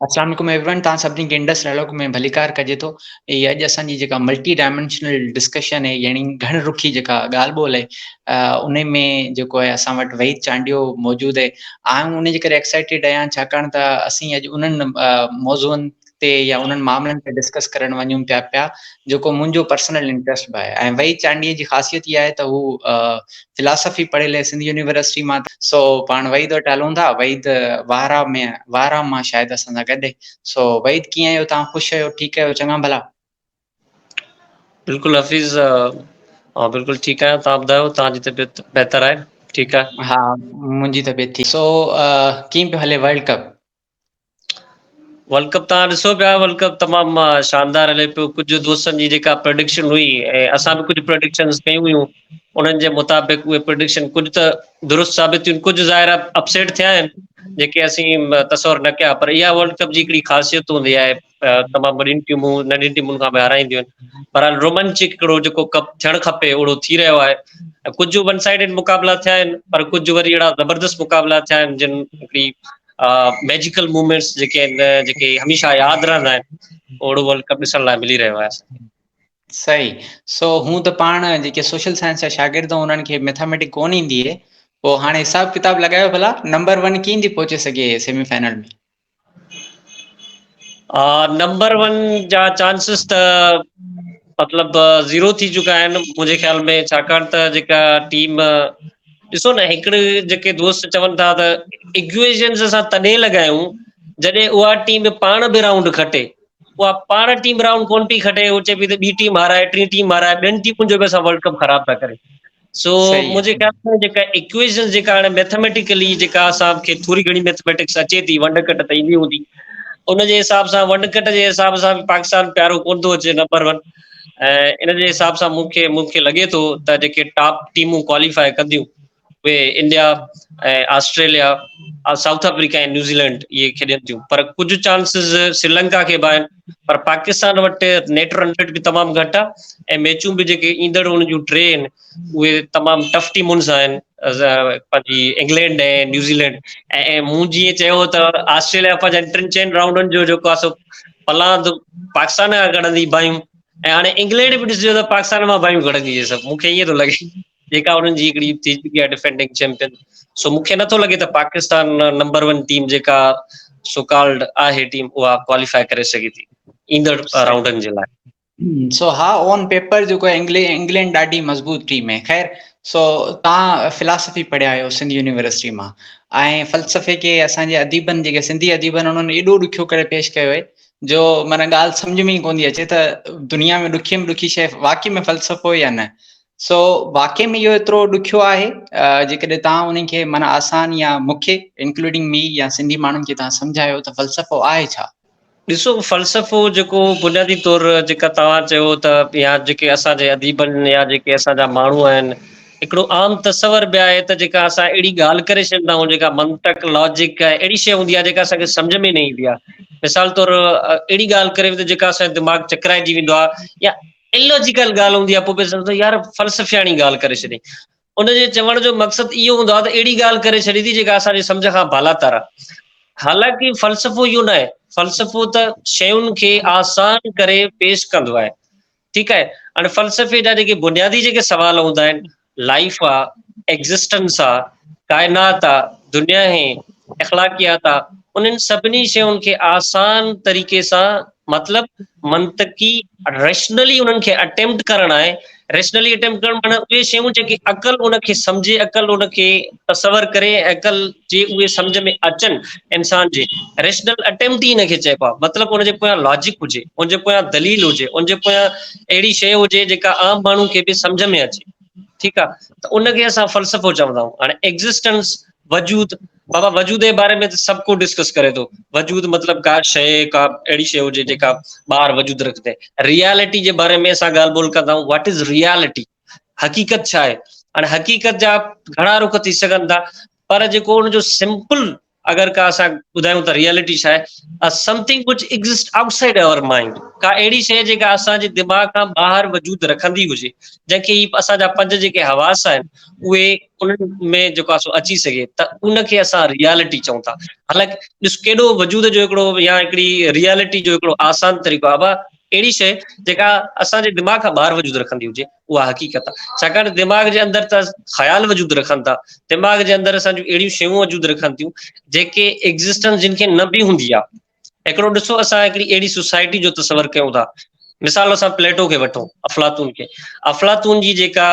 اسلام عليڪم everyone توهان سڀني کي انڊس ڊائلاگ ۾ ڀليڪار ڪجي ٿو هي اڄ اسان جي جيڪا ملٽي ڊائمينشنل ڊسڪشن آهي يعني گهڻ رخي جيڪا ڳالهه ٻولهه آهي ان ۾ جيڪو آهي اسان وٽ وحيد چانڊيو موجود آهي آئون ان جي ڪري ايڪسائٽيڊ آهيان ڇاڪاڻ ته اسين اڄ انهن موضوعن تي يا انهن معاملن تي ڊسڪس ڪرڻ وڃون پيا پيا جيڪو منهنجو پرسنل انٽرسٽ به آهي ۽ وحيد چانڊيي جي خاصيت اها آهي ته هو فلاسافي پڙهيل آهي سنڌ يونيورسٽي مان سو پاڻ وحيد وٽ هلون ٿا وحيد وارا ۾ وارا مان شايد اسان سان گڏ سو وحيد ڪيئن آهيو تان خوش آهيو ٺيڪ آهيو چڱا ڀلا بلڪل حفيظ ها بلڪل ٺيڪ آهيان تان ٻڌايو تان جي طبيعت بهتر آهي ٺيڪ آهي ها منهنجي طبيعت ٺيڪ سو ڪيئن پيو هلي ورلڊ ڪپ ورلڊ ڪپ تان ڏسو پيا ورلڊ ڪپ تمام شاندار هلي پيو ڪجهه دوستن جي جيڪا پرڊڪشن هئي ۽ اسان به ڪجهه پرڊڪشن ڪيون هيون انهن جي مطابق اهي پرڊڪشن ڪجهه ته درست ثابت ٿيون ڪجهه ظاهر اپسيٽ ٿيا آهن جيڪي اسين تصور نه ڪيا پر اها ورلڊ ڪپ جي هڪڙي خاصيت هوندي آهي تمام وڏين ٽيمون ننڍين ٽيمن کان به هارائينديون آهن بهرحال رومانچڪ هڪڙو جيڪو ڪپ ٿيڻ کپي اهڙو ٿي رهيو آهي ۽ ڪجهه ون سائيڊڊ مقابلا ٿيا آهن پر ڪجهه وري اهڙا زبردست مقابلا ٿيا آهن جن هڪڙي ميجيڪل موومينٽس جيڪي آهن جيڪي هميشه ياد رهندا آهن اهڙو ورلڊ ڪپ ڏسڻ لاء ملي رهيو آهي اسان صحيح سو هون ته پاڻ جيڪي سوشل سائنس جا شاگرد انهن کي ميٿاميٽڪ ڪون ايندي هي پوء هاڻي حساب ڪتاب لڳايو ڀلا نمبر ون ڪين ٿي پهچي سگهي سيمي فائنل ۾ نمبر ون جا چانسز ته مطلب زيرو ٿي چڪا آهن منهنجي خيال ۾ ڇاڪاڻ ته جيڪا ٽيم ڏسو نه هڪڙي جيڪي دوست چون ٿا ته اگويشنز اسان تڏهن لڳايون جڏهن اها ٽيم پاڻ به راؤنڊ کٽي اها پاڻ ٽيم راؤنڊ ڪونه پئي کٽي اهو چئي پئي ته ٻي ٽيم هارائي ٽي ٽيم هارائي ٻين ٽيمن جو به اسان ورلڊ ڪپ خراب ٿا ڪريون سو صحيح منهنجي خيال ۾ جيڪا اڪويشن جيڪا هاڻي ميٿميٽيڪلي جيڪا اسان کي ٿوري گهڻي ميٿميٽڪس اچي ٿي ونڊ ڪٽ ته ايندي هوندي ان جي حساب سان ونڊ ڪٽ جي حساب سان پاڪستان پيارو ڪون ٿو اچي نمبر ون ان جي حساب سان مون کي مون کي لڳي ٿو ته جيڪي ٽاپ ٽيمون ڪواليفائي ڪنديون اهي India ۽ Australia South Africa ۽ New Zealand اهي کيڏن ٿيون پر ڪجهه چانسز سريلنڪا کي به آهن پر پاڪستان وٽ نيٽ رن ريٽ به تمام گهٽ آهي ۽ ميچون به جيڪي ايندڙ ان جون ٽي آهن اهي تمام ٽف ٽيمون سان آهن پنهنجي انگلينڊ ۽ نيوزيلينڊ ۽ مون جيئن چيو ته آسٽريليا پنهنجا ٽن چئن راؤنڊن جو جيڪو آسو پلاند پاڪستان کان گهڙندي بايون ۽ هاڻي انگلينڊ به ڏسجو ته پاڪستان مان بايون گهڙندي سڀ مون کي ائين ٿو لڳي جيڪا انهن جي هڪڙي ٿي چڪي آهي ڊفينڊنگ چيمپيئن سو مون کي نٿو لڳي ته پاڪستان نمبر ون ٽيم جيڪا سوڪالڊ آهي ٽيم اها ڪواليفائي ڪري سگهي ٿي ايندڙ راؤنڊن جي لاء سو ها اون پيپر جيڪو انگلينڊ ڏاڍي مضبوط ٽيم آهي خير سو تان فلاسفي پڙهيا آهيو سنڌ يونيورسٽي مان ۽ فلسفي کي اسان جي اديبن جيڪي سنڌي اديبن انهن ايڏو ڏکيو ڪري پيش ڪيو آهي جو معنی ڳالهه سمجھ ۾ ئي ڪوندي اچي ته دنيا ۾ ڏکي ۾ ڏکي شيء واقعي ۾ فلسفو يا نه سو واقعي ۾ اهو ايترو ڏکيو آهي جيڪڏهن توهان انهن کي معنيٰ آسان يا مون کي انڪلوڊنگ مي يا سنڌي ماڻهن کي توهان سمجهايو ته فلسفو آهي ڇا؟ ڏسو فلسفو جيڪو بنيادي طور جيڪا توهان چيو ته يا جيڪي اسان جي اديبن يا جيڪي اسان جا ماڻهو آهن هڪڙو عام تصور به آهي ته جيڪا اسان اهڙي ڳالهه ڪري ڇڏيندا آهيون جيڪا منطق لاجڪ اهڙي شيء هوندي آهي جيڪا اسان کي سمجهه ۾ نه ايندي آهي مثال طور اهڙي ڳالهه ڪريو ته جيڪا اسان جو دماغ چڪرائجي ويندو آهي يا اللاجيڪل ڳالهه هوندي آهي پوء به سمجهندو يار فلسفياڻي ڳالهه ڪري ڇڏيائين. ان جي چوڻ جو مقصد اهو هوندو آهي ته اهڙي ڳالهه ڪري ڇڏي ٿي جيڪا اسان جي سمجهه کان بالاتر آهي. حالانڪه فلسفو اهو ناهي، فلسفو ته شين کي آسان ڪري پيش ڪندو آهي. ٺيڪ آهي. هاڻي فلسفي جا جيڪي بنيادي جيڪي سوال هوندا آهن، لائف آ، ايگزسٽنس آ، ڪائنات آ، دنيا هي، اخلاقيات آ، انهن سڀني شين کي آسان طريقي سان مطلب منطقي ريشنلي انهن کي اٽيمپٽ ڪرڻ آهي ريشنلي اٽيمپٽ ڪرڻ معنيٰ اهي شيون جيڪي عقل ان کي سمجهي عقل ان کي تصور ڪري عقل جي اهي سمجھ ۾ اچن انسان جي ريشنل اٽيمپٽ ئي ان کي چئبو آهي مطلب ان جي پويان لاجڪ هجي ان جي پويان دليل هجي ان جي پويان اهڙي شيء هجي جيڪا عام ماڻهو کي به سمجهه ۾ اچي ٺيڪ آ ته ان کي اسان فلسفو چوندا آهيون هاڻي ايگزسٽنس وجود بابا وجود جي باري ۾ سڀ ڪو ڊسڪس ڪري ٿو وجود مطلب ڪا شيء ڪا اهڙي شيء هجي جيڪا ٻاهر وجود رکندي ريالٽي جي باري ۾ اسان ڳالهه ٻولهه ڪندا آهيون واٽ از ريالٽي حقيقت ڇا آهي هاڻي حقيقت جا گهڻا رخ ٿي سگهن ٿا پر جيڪو ان جو سمپل اگر ڪا اسان ٻڌايون ته ريئلٽي ڇا آهي؟ A something which exists outside our mind ڪا اهڙي شيء جيڪا اسان جي دماغ کان ٻاهر وجود رکندي هجي جنهن کي اسان جا پنج جيڪي حواس آهن اهي انهن ۾ جيڪو سو اچي سگهي ته ان کي اسان ريئلٽي چئون ٿا حالانڪ ڏس ڪيڏو وجود جو هڪڙو يا هڪڙي ريئلٽي جو هڪڙو آسان طريقو آهي اهڙي شيء جيڪا اسان جي دماغ کان ٻاهر وجود رکندي هجي اها حقيقت آهي ڇاڪاڻ ته دماغ جي اندر ته خيال وجود رکن ٿا دماغ جي اندر اسان جون اهڙيون شيون وجود رکن ٿيون جيڪي ايگزسٽنس جن کي نه به هوندي آهي هڪڙو ڏسو اسان هڪڙي اهڙي سوسائٽي جو تصور ڪيون ٿا مثال اسان پليٽو کي وٺو افلاطون کي افلاطون جي جيڪا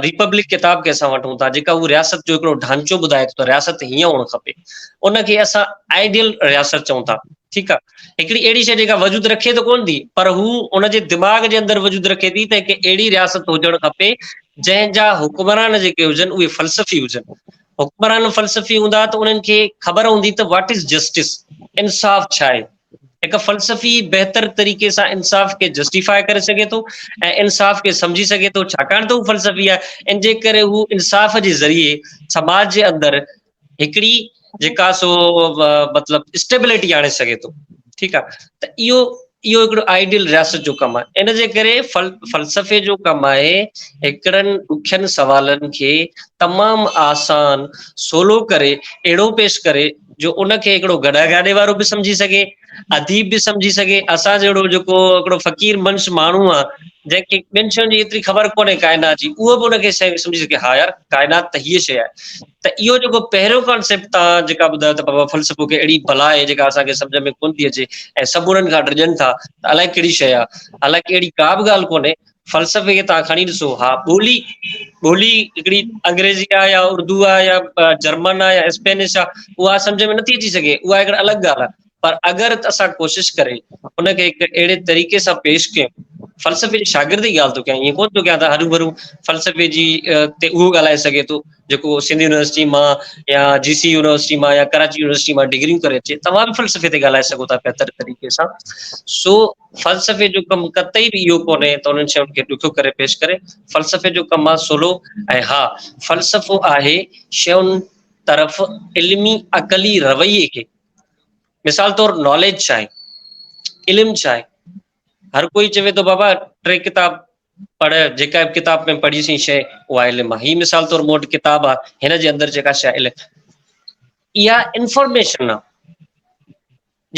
ريپبلڪ ڪتاب کي اسان وٺون ٿا جيڪا هو رياست جو هڪڙو ڍانچو ٻڌائي ٿو ته رياست هيئن هئڻ کپي ان کي اسان آئيڊيل رياست چئون ٿا ٺيڪ آهي هڪڙي اهڙي شيء جيڪا وجود رکي ته ڪونه ٿي پر هو ان جي دماغ جي اندر وجود رکي ٿي ته هڪ اهڙي رياست هجڻ کپي جنهن جا حڪمران جيڪي هجن اهي فلسفي هجن حڪمران فلسفي هوندا ته انهن کي خبر هوندي ته واٽ از جسٽس انصاف ڇا آهي هڪ فلسفي بهتر طريقي سان انصاف کي جسٽيفائي ڪري سگهي ٿو ۽ انصاف کي سمجهي سگهي ٿو ڇاڪاڻ ته هو فلسفي آهي ان جي ڪري هو انصاف جي ذريعي سماج جي اندر هڪڙي جيڪا سو مطلب اسٽيبلٽي آڻي سگهي ٿو ٺيڪ آهي ته اهو اهو هڪڙو آئيڊيل رياست جو ڪم آهي ان جي ڪري فلسفي جو ڪم آهي هڪڙن ڏکين سوالن کي تمام آسان سولو ڪري اهڙو پيش ڪري جو ان کي هڪڙو گڏا گاڏي وارو به سمجهي سگهي اديب به سمجهي سگهي اسان جهڙو جيڪو هڪڙو فقير منش ماڻهو آهي جنهن کي ٻين شين جي ايتري خبر ڪونهي ڪائنات جي اهو به ان کي سمجهي سگهي ها يار ڪائنات ته هيء شيء آهي ته اهو جيڪو پهريون ڪانسيپٽ توهان جيڪا ٻڌايو ته بابا فلسفو ڪي اهڙي بلا آهي جيڪا اسان کي سمجهه ۾ ڪونه ٿي اچي ۽ سڀ انهن کان ڊڄن ٿا ته الائي ڪهڙي شيء آهي حالانڪه اهڙي ڪا به ڳالهه ڪونهي فلسفي کي توهان کڻي ڏسو ها ٻولي ٻولي هڪڙي انگريزي آهي يا اردو آهي يا جرمن آهي يا اسپينش آهي اها سمجهه ۾ نٿي اچي سگهي اها هڪڙي الڳ ڳالهه آهي پر اگر اسان ڪوشش ڪري ان کي هڪ اهڙي طريقي سان پيش ڪيون، فلسفي جي شاگرد جي ڳالهه ٿو ڪيان ائين ڪونه ٿو ڪيان ته هروڀرو فلسفي جي تي اهو ڳالهائي سگهي ٿو جيڪو سنڌ يونيورسٽي مان يا جي سي يونيورسٽي مان يا ڪراچي يونيورسٽي مان ڊگريون ڪري اچي توهان به فلسفي تي ڳالهائي سگهو ٿا بهتر طريقي سان سو فلسفي جو ڪم قطعي به اهو ڪونهي ته انهن شين کي ڏکيو ڪري پيش ڪري فلسفي جو ڪم آهي سولو ۽ ها فلسفو آهي شين طرف علمي عقلي رويي کي مثال طور ناليج ڇا آهي علم ڇا آهي هر ڪوئي چوي ٿو بابا ٽي ڪتاب پڙهه جيڪا به ڪتاب ۾ پڙهي سي شي اها علم آهي هي مثال طور مون وٽ ڪتاب آهي هن جي اندر جيڪا شي علم اها انفارميشن آهي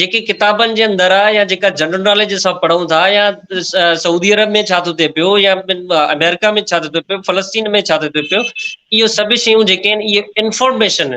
جيڪي ڪتابن جي اندر آهي يا جيڪا جنرل ناليج اسان پڙهون ٿا يا سعودي عرب ۾ ڇا ٿو ٿئي پيو يا امريڪا ۾ ڇا ٿو ٿئي پيو فلسطين ۾ ڇا ٿو ٿئي پيو اهو سڀ شيون جيڪي آهن اهي انفارميشن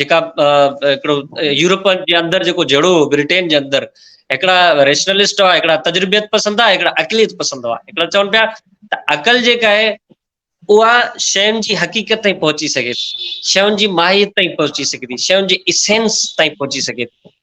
جيڪا هڪڙو يورپ جي اندر جيڪو جهيڙو هو بريٽين جي اندر هڪڙا ريشنلسٽ هئا هڪڙا تجربيت پسند هئا هڪڙا عقليت پسند هئا هڪڙا چون پيا ته عقل جيڪا آهي اها شين جي حقيقت تائين پهچي سگهي ٿي شين جي ماهيت تائين پهچي سگهي ٿي شين جي اسينس تائين پهچي سگهي ٿي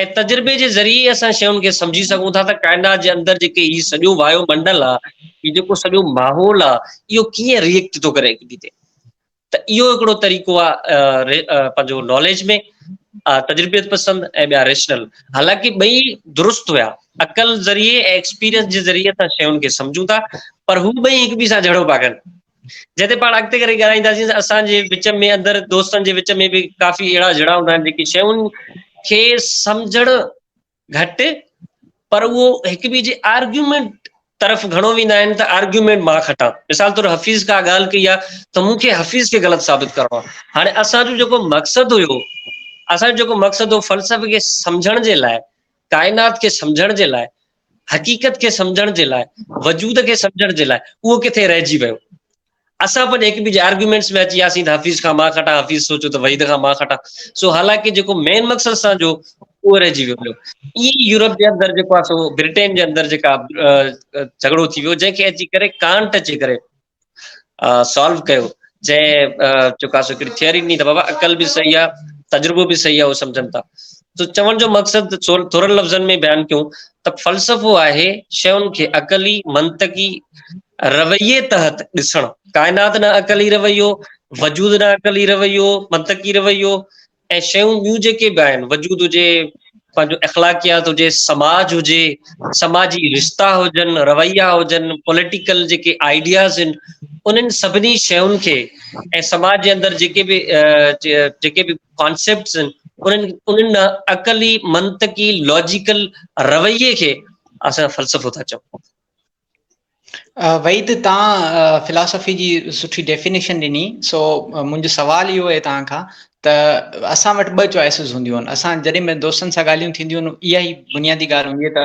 ۽ تجربي جي ذريعي اسان شين کي سمجهي سگهون ٿا ته ڪائنات جي اندر جيڪي هي سڄو وايو منڊل آ هي جيڪو سڄو ماحول آ اهو ڪيئن ريئيڪٽ ٿو ڪري هڪ ٻئي تي ته اهو هڪڙو طريقو آ پنهنجو ناليج ۾ تجربيت پسند ۽ ٻيا ريشنل حالانڪ ٻئي درست هيا عقل ذريعي ۽ ايڪسپيرينس جي ذريعي اسان شين کي سمجهون ٿا پر هو ٻئي هڪ ٻئي سان جهڙو پيا ڪن جتي پاڻ اڳتي ڪري ڳالهائينداسين ته اسان جي وچ ۾ اندر دوستن جي وچ ۾ به ڪافي اهڙا جھڙا هوندا آهن جيڪي شيون کي سمجھڻ گھٽ پر اهو هڪ ٻئي جي آرگيومينٽ طرف گھڻو ويندا آهن ته آرگيومينٽ مان کٽان مثال طور حفيظ ڪا ڳالهه ڪئي آهي ته مون کي حفيظ کي غلط ثابت ڪرڻو آهي هاڻي اسان جو جيڪو مقصد هيو اسان جو جيڪو مقصد هو فلسفي کي سمجھڻ جي لاء ڪائنات کي سمجھڻ جي لاء حقيقت کي سمجهڻ جي لاء، وجود کي سمجهڻ جي لاء اهو ڪٿي رهجي ويو. اسان پڄي هڪٻئي جي آرگيومينٽس ۾ اچي وياسين ته حفيظ کان مان کٽان، حفيظ سوچيو ته وحيد کان مان کٽان. سو حالانڪه جيڪو مين مقصد اسان جو هو اهو رهجي ويو. ائين ئي يورپ جي اندر جيڪو آهي سو برٽين جي اندر جيڪا جهڳڙو ٿي ويو جنهن کي اچي ڪري ڪانٽ اچي ڪري سالو ڪيو جنهن چڪاس هڪڙي ٿيوري ڏني ته بابا عقل به صحيح آ تجربو به صحيح آ اهو سمجهن ٿا ته چوڻ جو مقصد ٿورن لفظن ۾ بيان ڪيون ته فلسفو آهي شين کي عقلي منطقي رويي تحت ڏسڻ ڪائنات نه عقلي رويو وجود نه عقلي رويو منطقي رويو ۽ شيون ٻيون جيڪي به آهن وجود هجي پنهنجو اخلاقيات هجي سماج هجي سماجي رشتا هجن رويا هجن پوليٽيڪل جيڪي آئيڊياز آهن انهن سڀني شيون کي ۽ سماج جي اندر جيڪي به جيڪي به ڪانسيپٽس آهن انهن انهن عقلي منطقي لاجيڪل رويي کي اسان فلسفو ٿا چئون وحيد تهان فلاسافي جي سٺي ڊيفينيشن ڏني سو منهنجو سوال اهو آهي تهان کان ته اسان وٽ ٻه چوائسز هونديون آهن اسان جڏهن به دوستن سان ڳالهيون ٿينديون آهن اها ئي بنيادي ڳالهه هوندي ته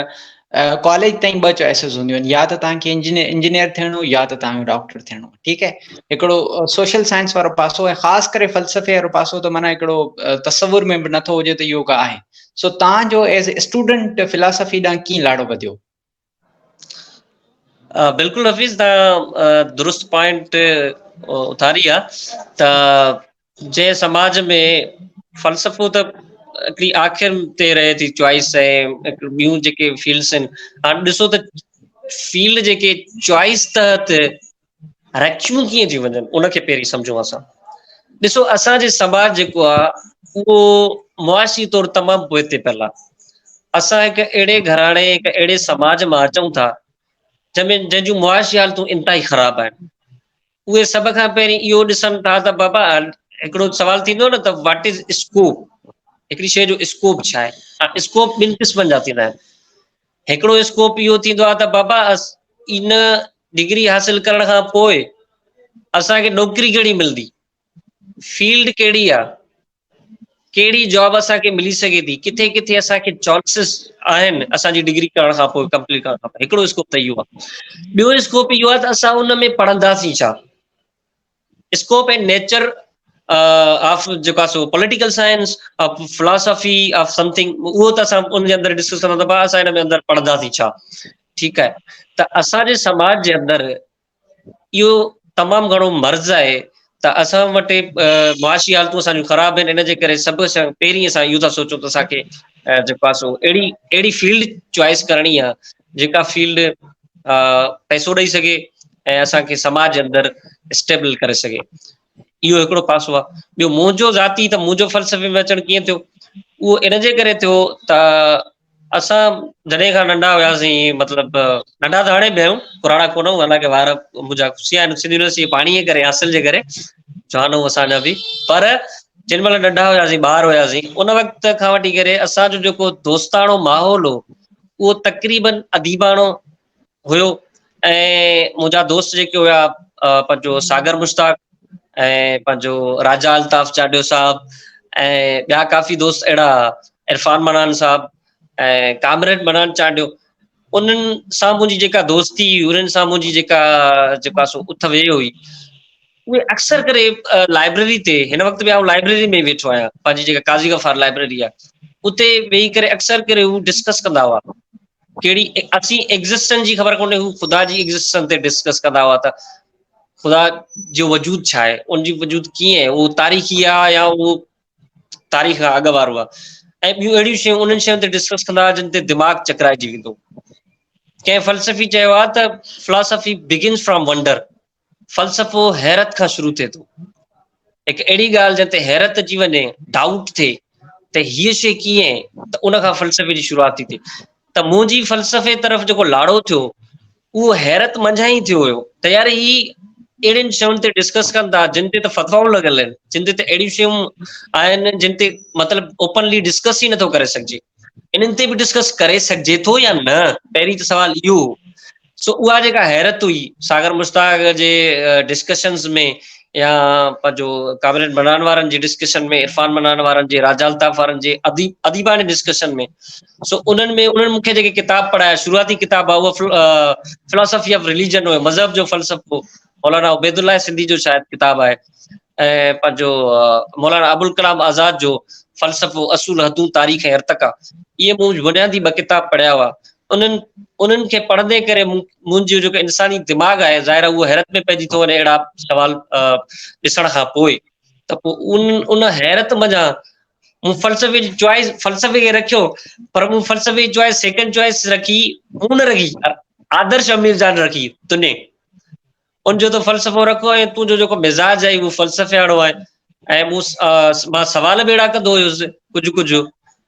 ڪاليج تائين ٻه چوائسز هونديون آهن يا ته تهان کي انجنيئر ٿيڻو يا ته تهان کي ڊاڪٽر ٿيڻو ٺيڪ آهي هڪڙو سوشل سائنس وارو پاسو ۽ خاص ڪري فلسفي وارو پاسو ته معنيٰ هڪڙو تصور ۾ به نٿو هجي ته يوگا آهي سو تهان جو ايز اسٽوڊنٽ فلاسافي ڏانهن ڪيئن لاڙو وڌيو بلڪل حفيظ تان درست پوائنٽ اٿاري آ ته جنهن سماج ۾ فلسفو ته هڪڙي آخر تي رهي ٿي چوائس ۽ ٻيون جيڪي فيلڊس آهن هاڻ ڏسو ته فيلڊ جيڪي چوائس تحت رکيون ڪيئن ٿيون وڃن ان کي پهرين سمجهون اسان ڏسو اسان جي سماج جيڪو آ اهو معاشي طور تمام پوئتي پيل آ اسان هڪ اهڙي گهراڻي هڪ اهڙي سماج مان اچون ٿا جنهن ۾ جنهن جون معاشي حالتون انتهائي خراب آهن اهي سڀ کان پهرين اهو ڏسن ٿا ته بابا هڪڙو سوال ٿيندو نه ته واٽ از اسڪوپ هڪڙي شيء جو اسڪوپ ڇا آهي اسڪوپ ٻن قسمن جا ٿيندا آهن هڪڙو اسڪوپ اهو ٿيندو آهي ته بابا ان ڊگري حاصل ڪرڻ کان پوء اسان کي نوڪري ڪهڙي ملندي فيلڊ ڪهڙي آ ڪهڙي جاب اسان کي ملي سگهي ٿي ڪٿي ڪٿي اسان کي چوائسز آهن اسان جي ڊگري ڪرڻ کان پوء ڪمپليٽ ڪرڻ کان پوء هڪڙو اسڪوپ ته اهو آ ٻيو اسڪوپ اهو آ ته اسان ان ۾ پڙهنداسين ڇا اسڪوپ اينڊ نيچر آف جيڪو آهي سو political science of philosophy of something اهو ته اسان ان جي اندر ڊسڪس ڪندا ته اسان ان ۾ اندر پڙهنداسين ڇا ٺيڪ آهي ته اسان جي سماج جي اندر اهو تمام گھڻو مرض آهي ته اسان وٽ معاشي حالتون اسان جون خراب آهن ان جي ڪري سڀ سان پهرين اسان اهو ٿا سوچون ته اسان کي جيڪو آهي سو اهڙي اهڙي فيلڊ چوائس ڪرڻي آهي جيڪا فيلڊ پئسو ڏئي سگهي ۽ اسان کي سماج اندر اسٽيبل ڪري سگهي اهو هڪڙو پاسو آهي ٻيو منهنجو ذاتي ته منهنجو فلسفي ۾ اچڻ ڪيئن ٿيو اهو ان جي ڪري ٿيو ته اسان جڏهن کان ننڍا هياسين مطلب ننڍا ته هاڻي به آهيون پراڻا ڪونه هو حالانڪه وار منهنجا خوشي آهن سنڌ يونيورسٽي پاڻي جي ڪري حاصل جي ڪري جوان هو اسان جا به پر جن مهل ننڍا هياسين ٻار هياسين ان وقت کان وٺي ڪري اسان جو جيڪو دوستاڻو ماحول هو اهو تقريباً اديباڻو هيو ۽ منهنجا دوست جيڪي هيا پنهنجو ساگر مشتاق ۽ پنهنجو راجا الطاف چاڊيو صاحب ۽ ٻيا ڪافي دوست اهڙا عرفان منان صاحب ۽ ڪامريڊ منان چانڊيو انهن سان منهنجي جيڪا دوستي انهن سان منهنجي جيڪا جيڪا سو اٿ ويهه هئي اهي اڪثر ڪري لائبريري تي هن وقت به آئون لائبريري ۾ ويٺو آهيان پنهنجي جيڪا قاضي غفار لائبريري آهي اتي ويهي ڪري اڪثر ڪري هو ڊسڪس ڪندا هئا ڪهڙي اسين ايگزسٽنس جي خبر ڪونهي هو خدا جي ايگزسٽنس تي ڊسڪس ڪندا هئا ته خدا جو وجود ڇا آهي ان جي وجود ڪيئن آهي اهو تاريخي آهي يا اهو تاريخ کان اڳ وارو آهي ۽ ٻيون اهڙيون شيون انهن شين تي ڊسڪس ڪندا هئا جن تي دماغ چڪرائجي ويندو ڪنهن فلسفي چيو آهي ته فلاسفي بگنس فرام ونڊر فلسفو حيرت کان شروع ٿئي ٿو. هڪ اهڙي ڳالهه جنهن تي حيرت اچي وڃي، ڊائوٽ ٿئي ته هيء شيء ڪيئن ته ان کان فلسفي جي شروعات ٿي ٿئي. ته منهنجي فلسفي طرف جيڪو لاڙو ٿيو اهو حيرت منجهان ئي ٿيو هيو ته يار هي اهڙين شين تي ڊسڪس ڪن ٿا جن تي ته فتوائون لڳل آهن، جن تي ته اهڙيون شيون آهن جن تي مطلب اوپنلي ڊسڪس ئي نٿو ڪري سگهجي. انهن تي به ڊسڪس ڪري سگهجي ٿو يا نه پهرين ته سوال اهو هو سو اها جيڪا حيرت هئي ساگر مشتاق جي ڊسڪشنز ۾ يا پنهنجو ڪابريٽ بنان وارن جي ڊسڪشن ۾ عرفان بنان وارن جي راجا الطاف وارن جي اديب اديباڻي ڊسڪشن ۾ سو انهن ۾ انهن مونکي جيڪي ڪتاب پڙهايا شروعاتي ڪتاب هو فلسفي آف ريليجن هو مذهب جو فلسفو مولانا عبيد الله سنڌي جو شايد ڪتاب آهي ۽ پنهنجو مولانا ابوالڪلام آزاد جو فلسفو، اصول، حدون، تاريخ ۽ ارتقا اهي مون بنيادي ٻه ڪتاب پڙهيا هئا. انهن انهن کي پڙهندي ڪري مون منهنجو جيڪو انساني دماغ آهي ظاهر آهي اهو حيرت ۾ پئجي ٿو وڃي اهڙا سوال ڏسڻ کان پوء ته پوء ان ان حيرت منجهان مون فلسفي جي چوائس فلسفي کي رکيو پر مون فلسفي جي چوائس سيڪنڊ چوائس رکي مون نه رکي آدرش امير جان رکي تنهن ان جو ته فلسفو رکو ۽ تون جو جيڪو مزاج آهي اهو فلسفياڻو آهي ۽ مون مان سوال به اهڙا ڪندو هيس ڪجهه ڪجهه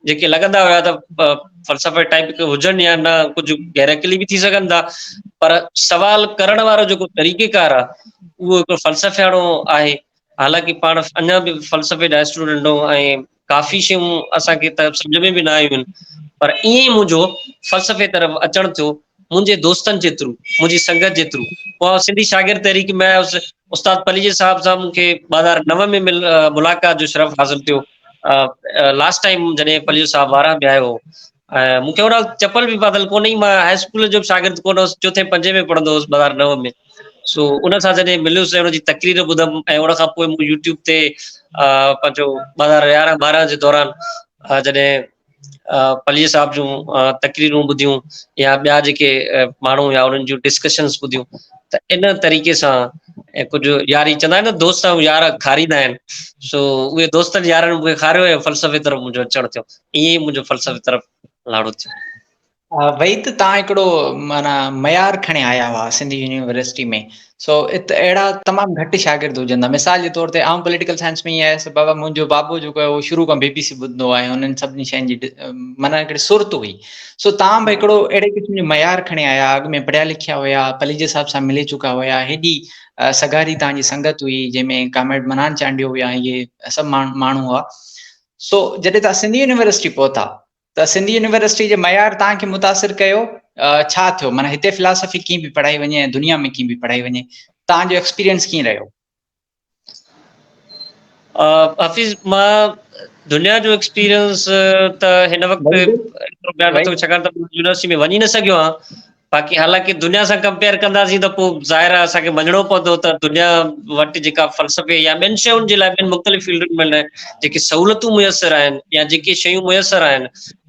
جيڪي لڳندا هيا ته فلسفي ٽائپ کي هجن يا نه ڪجهه گهرڪلي به ٿي سگهن ٿا پر سوال ڪرڻ وارو جيڪو طريقي ڪار آهي اهو هڪ فلسفياڻو آهي حالانڪ پاڻ اڃا به فلسفي جا اسٽوڊنٽ ۽ ڪافي شيون اسان کي ته سمجهه ۾ به نه آيون هن پر ائين ئي منهنجو فلسفي طرف اچڻ ٿيو منهنجي دوستن جي ٿرو منهنجي سنگت جي ٿرو پوء سنڌي شاگرد تحريڪ ۾ آيس استاد پليجي صاحب سان مون کي ٻه هزار نو ۾ ملاقات جو شرف حاصل ٿيو لاسٽ ٽائيم جڏهن پليجو صاحب وارهه ۾ آيو هو ۽ مون کي ان وقت چپل به پاتل ڪونه هئي، مان هاء اسڪول جو به شاگرد ڪونه هوس، چوٿين پنجين ۾ پڙهندو هوس ٻه هزار نو ۾، سو ان سان جڏهن مليس ۽ ان جي تقرير ٻڌم ۽ ان کان پوء مون يو ٽيوب تي پنهنجو ٻه هزار يارهن ٻارهن جي دوران جڏهن پليجي صاحب جون تقريرون ٻڌيون يا ٻيا جيڪي ماڻهو يا انهن جون ڊسڪشنس ٻڌيون ته ان طريقي سان ۽ ڪجهه ياري چوندا آهن نه دوست يار کاريندا آهن سو اهي دوستن يارن مون کي کاريو ۽ فلسفي طرف منهنجو اچڻ ٿيو ائين ئي منهنجو فلسفي طرف لاڙو ٿيو. وئي ته تان هڪڙو معنيٰ معيار کڻي آيا هئا سنڌ يونيورسٽي ۾ سو ات اهڙا تمام گهٽ شاگرد هجن ٿا مثال جي طور تي آئون پوليٽيڪل سائنس ۾ ائين آيس بابا منهنجو بابو جيڪو آهي اهو شروع کان بي بي سي ٻڌندو آهي انهن سڀني شين جي معنيٰ هڪڙي سرت هئي سو تان به هڪڙو اهڙي قسم جو معيار کڻي آيا اڳ ۾ پڙهيا لکيا هيا پليجي صاحب سان ملي چڪا هيا هيڏي سگهاري تان جي سنگت هئي جنهن ۾ ڪامريڊ منان چانڊيو هيا ائين سڀ ماڻهو هئا سو جڏهن توهان سنڌي يونيورسٽي پهتا ته سنڌي يونيورسٽي جي معيار توهان کي متاثر ڪيو ڇا ٿيو معنيٰ هتي فلاسافي ڪيئن به پڙهائي وڃي ۽ دنيا ۾ ڪيئن به پڙهائي وڃي توهان جو ايڪسپيرينس ڪيئن رهيو حفيظ مان دنيا جو ايڪسپيرينس ته هن وقت ڇاڪاڻ ته يونيورسٽي ۾ وڃي نه سگهيو آهيان باقي حالانڪه دنيا سان ڪمپيئر ڪنداسين ته پوء ظاهر آهي اسان کي مڃڻو پوندو ته دنيا وٽ جيڪا فلسفي يا ٻين شين جي لاء ٻين مختلف فيلڊن ۾ نه جيڪي سهولتون ميسر آهن يا جيڪي شيون ميسر آهن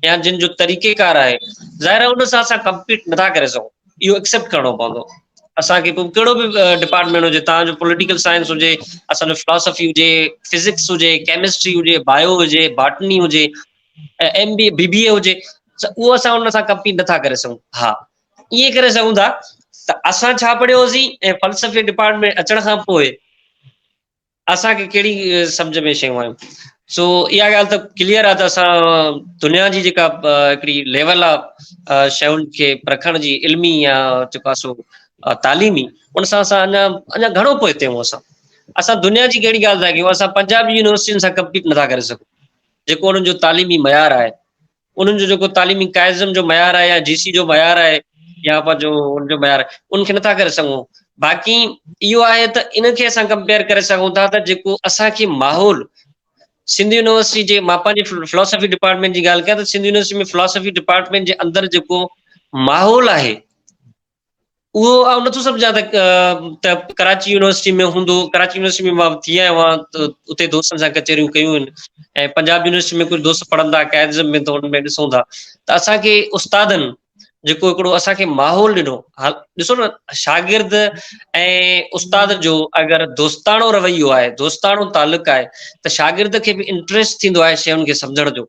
يا جن جو طريقي ڪار آهي ظاهر آهي ان سان اسان ڪمپيٽ نٿا ڪري سگهون اهو اڪسيپٽ ڪرڻو پوندو اسان کي پوء ڪهڙو به ڊپارٽمنٽ هجي تان جو پوليٽيڪل سائنس هجي اسان جو فلاسفي هجي فزڪس هجي ڪيمسٽري هجي بايو هجي باٽني هجي ايم بي اي بي بي اي هجي اهو اسان ان سان ڪمپيٽ نٿا ڪري سگهون ها ائين ڪري سگهون ٿا ته اسان ڇا پڙهيو هوسين ۽ فلسفي ڊپارٽمينٽ اچڻ کان پوء اسان کي کيڙي سمجھ ۾ شيون آيون سو اها ڳالهه ته ڪليئر آهي ته اسان دنيا جي جيڪا هڪڙي ليول آهي شيون کي پرکڻ جي علمي يا جيڪو سو تعليمي ان سان اسان اڃا اڃا گهڻو پوئتي آهيون اسان اسان دنيا جي ڪهڙي ڳالهه ٿا ڪيون اسان پنجاب يونيورسٽين سان ڪمپيٽ نٿا ڪري سگهون جيڪو انهن جو تعليمي معيار آهي انهن جو جيڪو تعليمي قائزم جو معيار آهي يا جي سي جو معيار آهي يا پنهنجو ان جو معيار ان کي نٿا ڪري سگهون باقي اهو آهي ته ان کي اسان ڪمپيئر ڪري سگهون ٿا ته جيڪو اسان کي ماحول سنڌ يونيورسٽي جي مان پنهنجي فلاسفي ڊپارٽمنٽ جي ڳالهه ڪيا ته سنڌ يونيورسٽي ۾ فلاسفي ڊپارٽمنٽ جي اندر جيڪو ماحول آهي اهو آئون نٿو سمجهان ته ڪراچي يونيورسٽي ۾ هوندو ڪراچي يونيورسٽي ۾ مان ٿي آيو آهيان ته اتي دوستن سان ڪچهريون ڪيون آهن ۽ پنجاب يونيورسٽي ۾ ڪجهه دوست پڙهن ٿا قائدزم ۾ ته ان ۾ ڏسون ٿا ته اسانکي استادن جيڪو هڪڙو اسانکي ماحول ڏنو ڏسو نه شاگرد ۽ استاد جو اگر دوستاڻو رويو آهي دوستاڻو تعلق آهي ته شاگرد کي به انٽرسٽ ٿيندو آهي شين کي سمجهڻ جو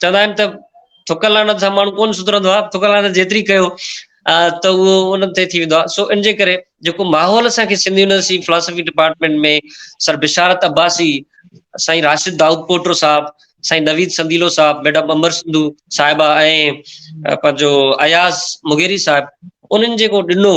چوندا آهن ته ٿڪ لعنت سان ماڻهو ڪونه سڌرندو آهي ٿڪ لعنت جيتري ڪيو ته اهو ان تي ٿي ويندو آهي سو ان جي ڪري جيڪو ماحول اسان کي Sindh university philosophy department ۾ sir Basharat Abbasi سائين راشد داؤد پوٽو صاحب سائين نويد سنديلو صاحب ميڊم امر سنڌو صاحبه ۽ پنهنجو اياز مغيري صاحب انهن جيڪو ڏنو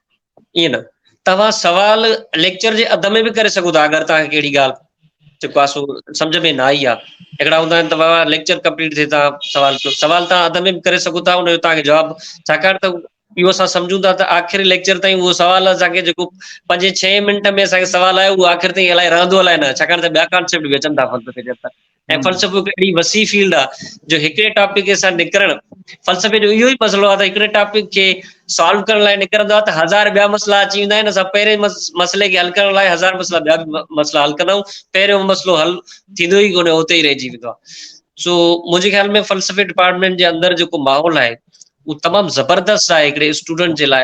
ائين نه توهان سوال ليڪچر جي اڌ ۾ به ڪري سگهو ٿا اگر توهان کي ڪهڙي ڳالهه جيڪو آسو سمجھ ۾ نه آئي آهي هڪڙا هوندا آهن ته بابا ليڪچر ڪمپليٽ ٿئي تان سوال ڪيو سوال تان اڌ ۾ به ڪري سگهو ٿا ان جو تان کي جواب ڇاڪاڻ ته اهو اسان سمجھون ٿا ته آخري ليڪچر تائين اهو سوال اسان کي جيڪو پنج ڇهين منٽ ۾ اسان کي سوال آيو اهو آخر تائين الائي رهندو الائي نه ڇاڪاڻ ته ٻيا ڪانسيپٽ به اچن ٿا فقط ۽ فلسفو هڪ اهڙي وسيع فيلڊ آ جو هڪڙي ٽاپڪ کي سان نڪرڻ فلسفي جو اهو ئي مسئلو آ ته هڪڙي ٽاپڪ کي سالو ڪرڻ لاء نڪرندو آ ته هزار ٻيا مسئلا اچي ويندا آهن اسان پهرين مسئلي کي حل ڪرڻ لاء هزار مسئلا ٻيا به مسئلا حل ڪندا آهيون پهريون مسئلو حل ٿيندو ئي ڪونهي اتي ئي رهجي ويندو آ سو منهنجي خيال ۾ فلسفي ڊپارٽمينٽ جي اندر جيڪو ماحول آهي اهو تمام زبردست آهي هڪڙي اسٽوڊنٽ جي لاء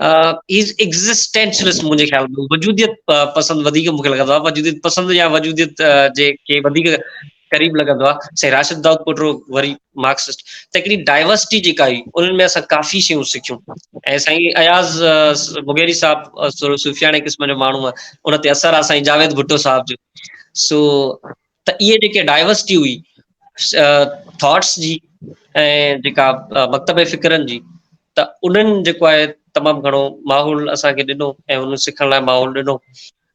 هي از ايگزسٽينشلسٽ منهنجي خيال ۾ وجوديت پسند وڌيڪ مونکي لڳندو آهي وجوديت پسند يا وجوديت جي کي وڌيڪ قريب لڳندو آهي سائين راشد داؤد پوٽرو وري مارڪسسٽ ته هڪڙي ڊائورسٽي جيڪا هئي انهن ۾ اسان ڪافي شيون سکيون ۽ سائين اياز مغيري صاحب صوفياڻي قسم جو ماڻهو ان تي اثر آهي سائين جاويد ڀٽو صاحب جو سو ته اهي جيڪي ڊائيورسٽي هئي ٿاٽس جي ۽ جيڪا مڪتب فڪرن جي ته انهن جيڪو آهي تمام گھڻو ماحول اسان کي ڏنو ۽ انهن سکڻ لاء ماحول ڏنو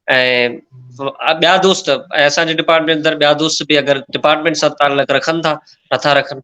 ۽ ٻيا دوست ۽ اسان جي ڊپارٽمينٽ اندر ٻيا دوست به اگر ڊپارٽمينٽ سان تعلق رکن ٿا نٿا رکن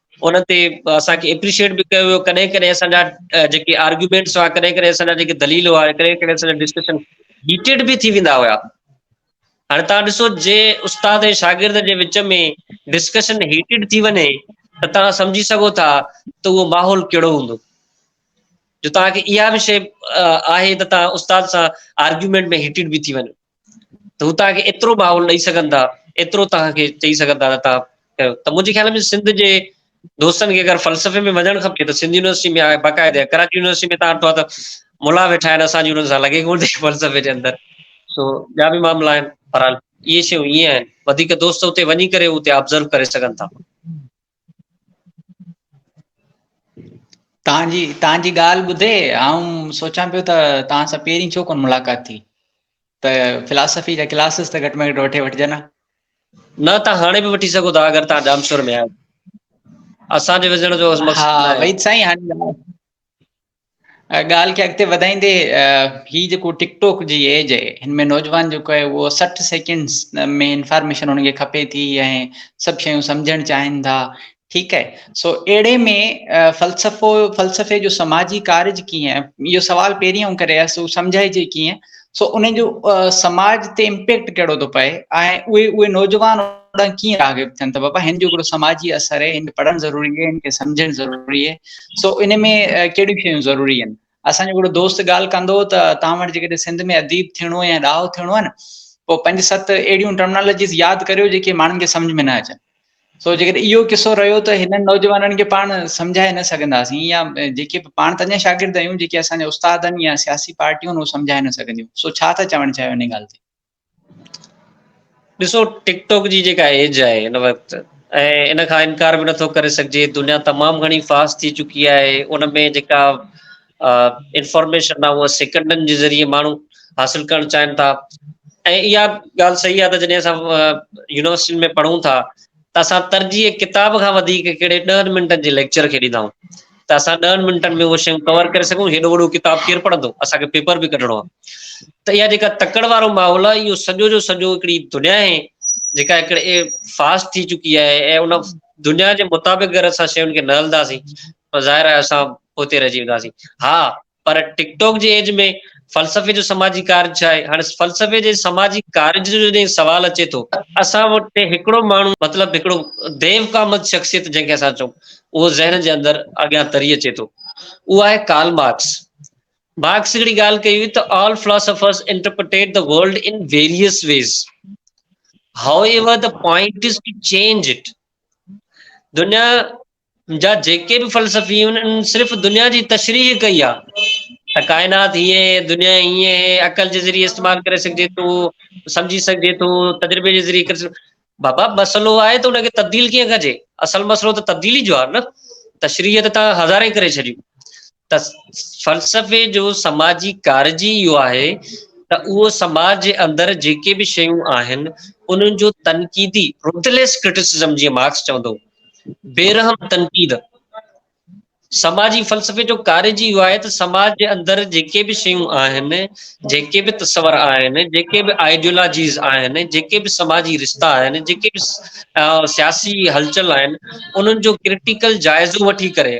ان تي اسان کي اپريشيئيٽ به ڪيو ويو ڪڏهن ڪڏهن اسان جا جيڪي آرگيومينٽس هئا ڪڏهن ڪڏهن اسان جا جيڪي دليل هئا ڪڏهن ڪڏهن اسان جا ڊسڪشن هيٽيڊ به ٿي ويندا هيا هاڻي تان ڏسو جي استاد ۽ شاگرد جي وچ ۾ ڊسڪشن هيٽيڊ ٿي وڃي ته تان سمجهي سگهو ٿا ته اهو ماحول ڪهڙو هوندو جو تان کي اها به شي آهي ته تان استاد سان آرگيومينٽ ۾ هيٽيڊ به ٿي وڃو ته هو توهان کي ايترو ماحول ڏئي سگهن ٿا، ايترو توهان کي چئي سگهن ٿا ته توهان ڪيو. ته منهنجي خيال ۾ سنڌ جي دوستن کي اگر فلسفي ۾ وڃڻ کپي ته سنڌ يونيورسٽي ۾ آهي باقاعده يا ڪراچي يونيورسٽي ۾ توهان ڏٺو آهي ته ملا ويٺا آهن اسان جي انهن سان لڳي ڪونه ٿي فلسفي جي اندر سو ٻيا به معاملا آهن بهرحال اهي شيون ائين آهن وڌيڪ دوست اتي وڃي ڪري اتي آبزرو ڪري سگهن ٿا. تان جي تان جي ڳالهه ٻڌي آئون سوچان پيو ته تان سان پهرين ڇو ڪونه ملاقات ٿي ته فلاسفي جا ڪلاسز ته گهٽ ۾ گهٽ وٺي وٺجن ها نه تان هاڻي به وٺي سگهو ٿا اگر تان ڄامشور ۾ آهيو اسان جي وزڻ جو مقصد ها وحيد سائين هاڻي ڳالهه کي اڳتي وڌائيندي هي جيڪو ٽڪ ٽوڪ جي ايج آهي هن ۾ نوجوان جيڪو آهي اهو سٺ سيڪنڊس ۾ انفارميشن هن کي کپي ٿي ۽ سڀ شيون سمجهڻ چاهين ٿا ٺيڪ آهي سو اهڙي ۾ فلسفو فلسفي جو سماجي ڪارج ڪيئن اهو سوال پهرين آئون ڪري آس سمجهائجي ڪيئن سو انهن جو سماج تي امپيڪٽ ڪهڙو ٿو پئي ۽ اهي اهي نوجوان ڏانهن ڪيئن راغب ٿين ته بابا هن جو هڪڙو سماجي اثر آهي هن کي پڙهڻ ضروري آهي هن کي سمجهڻ ضروري آهي سو ان ۾ ڪهڙيون شيون ضروري آهن اسانجو هڪڙو دوست ڳالهه ڪندو ته توهان وٽ جيڪڏهن سنڌ ۾ اديب ٿيڻو يا ڏاهو ٿيڻو آهي نه پوء پنج ست اهڙيون ٽرمنالوجيز ياد ڪريو جيڪي ماڻهن کي سمجھ ۾ نه اچن سو جيڪڏهن اهو قصو رهيو ته هنن نوجوانن کي پاڻ سمجهائي نه سگهنداسين يا جيڪي پاڻ ته اڃا شاگرد آهيون جيڪي اسان جا استاد آهن يا سياسي پارٽيون اهو سمجهائي نه سگهنديون سو ڇا ٿا چوڻ چاهيو ان ڳالهه تي ڏسو ٽڪ ٽاڪ جي جيڪا ايج آهي ان وقت ۽ ان کان انڪار به نٿو ڪري سگهجي دنيا تمام گهڻي فاسٽ ٿي چڪي آهي ان ۾ جيڪا انفارميشن آهي اها سيڪنڊن جي ذريعي ماڻهو حاصل ڪرڻ چاهين ٿا ۽ اها ڳالهه صحيح آهي ته جڏهن اسان يونيورسٽين ۾ پڙهون ٿا ته اسان ترجيح ڪتاب کان وڌيڪ ڪهڙي ڏهن منٽن جي ليڪچر کي ڏيندا آهيون ته اسان ڏهن منٽن ۾ اهو شيون ڪور ڪري سگھون هيڏو وڏو ڪتاب ڪير پڙهندو اسانکي پيپر به ڪڍڻو آهي ته اها جيڪا تڪڙ وارو ماحول آهي اهو سڄو جو سڄو هڪڙي دنيا آهي جيڪا هڪڙي فاسٽ ٿي چڪي آهي ۽ ان دنيا جي مطابق اگر اسان شين کي نه هلنداسين ته ظاهر آهي اسان پوئتي رهجي وينداسين. ها پر ٽڪ ٽاڪ جي ايج ۾ فلسفي جو سماجي ڪارج ڇا آهي؟ هاڻ فلسفي جي سماجي ڪارج جو جڏهن سوال اچي ٿو ته اسان وٽ هڪڙو ماڻهو مطلب هڪڙو ديو ڪا مت شخصيت جنهن کي اسان چئون اهو ذهن جي اندر اڳيان تري اچي ٿو اهو آهي ڪارل مارڪس. مارڪس هڪڙي ڳالهه ڪئي هئي ته All philosophers interpretate the world in various ways. However the point is to change it. دنيا جا جيڪي به فلسفي انهن صرف دنيا جي تشريح ڪئي آ ته ڪائنات هيئن هي دنيا هيئن هي عقل جي ذريعي استعمال ڪري سگهجي ٿو سمجهي سگهجي ٿو تجربي جي ذريعي ڪري سگهجي بابا مسئلو آهي ته ان کي تبديل ڪيئن ڪجي اصل مسئلو ته تبديلي جو آهي نه تشريح ته تان هزارين ڪري ڇڏيون ته فلسفي جو سماجي ڪارج ئي اهو آهي ته اهو سماج جي اندر جيڪي به شيون آهن انهن جو تنقيدي Ruthless Criticism جيئن مارڪس چوندو بيرحم تنقيد سماجي فلسفي جو ڪارج ئي اهو آهي ته سماج جي اندر جيڪي به شيون آهن جيڪي به تصور آهن جيڪي به آئيڊيولاجيز آهن جيڪي به سماجي رشتا آهن جيڪي به سياسي هلچل آهن انهن جو ڪرٽيڪل جائزو وٺي ڪري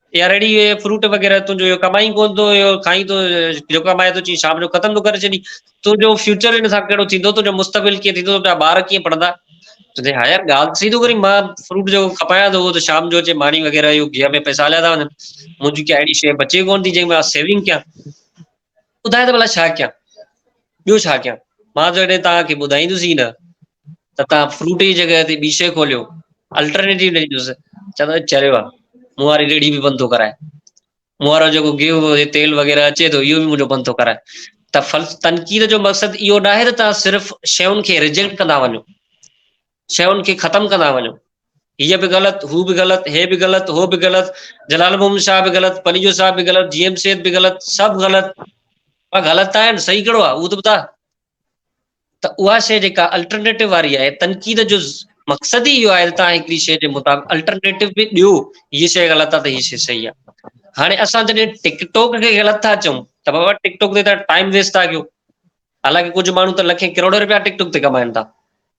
يا ريڙهي هئي فروٽ وغيره تنهنجو اهو ڪمائي ئي ڪونه ٿو اهو کائين ٿو جيڪو ڪمائي ٿو چئين شام جو ختم ٿو ڪري ڇڏين تنهنجو فيوچر هن سان ڪهڙو ٿيندو تنهنجو مستقبل ڪيئن ٿيندو تنهنجا ٻار ڪيئن پڙهندا چوندي ها يار ڳالهه صحيح ٿو ڪرين مان فروٽ جو کپايان ٿو ته شام جو اچي ماني وغيره اهو گيهه ۾ پئسا هليا ٿا وڃن منهنجي ڪا اهڙي شيء بچي ڪونه ٿي جنهن ۾ مان سيونگ ڪيان ٻڌاء ته ڀلا ڇا ڪيان؟ ٻيو ڇا ڪيان؟ مان جڏهن توهان کي ٻڌائيندس ئي نه ته توهان فروٽ جي جڳهه تي ٻي شيء کوليو، الٽرنيٽو ڏيندس. چوندو چريو آ، مون واري ريڙهي به بند ٿو ڪرائي. مون وارو جيڪو گيهه جي تيل وغيره اچي ٿو، اهو به منهنجو بند ٿو ڪرائي. ته تنقيد جو مقصد اهو ناهي ته توهان صرف شين کي ريجيڪٽ ڪندا وڃو. شين کي ختم ڪندا وڃو. هيء به غلط، هو به غلط، هي به غلط، هو به غلط، جلال محمد شاهه به غلط، پليجو صاحب به غلط، جي ايم سيد به غلط، سڀ غلط. پر غلط ته آهن، صحيح ڪهڙو آهي اهو ته ٻڌاء. ته اها شيء جيڪا الٽرنيٽو واري آهي، تنقيد جو مقصد ئي اهو آهي ته توهان هڪڙي شيء جي مطابق الٽرنيٽو به ڏيو، هيء شيء غلط آهي ته هيء شيء صحيح آهي. هاڻي اسان جڏهن ٽڪ ٽوڪ کي غلط ٿا چئون ته بابا ٽڪ ٽوڪ تي ته ٽائيم ويسٽ ٿا ڪيو. حالانڪه ڪجهه ماڻهو ته لکين ڪروڙين رپيا ٽڪ ٽوڪ تي ڪمائين ٿا.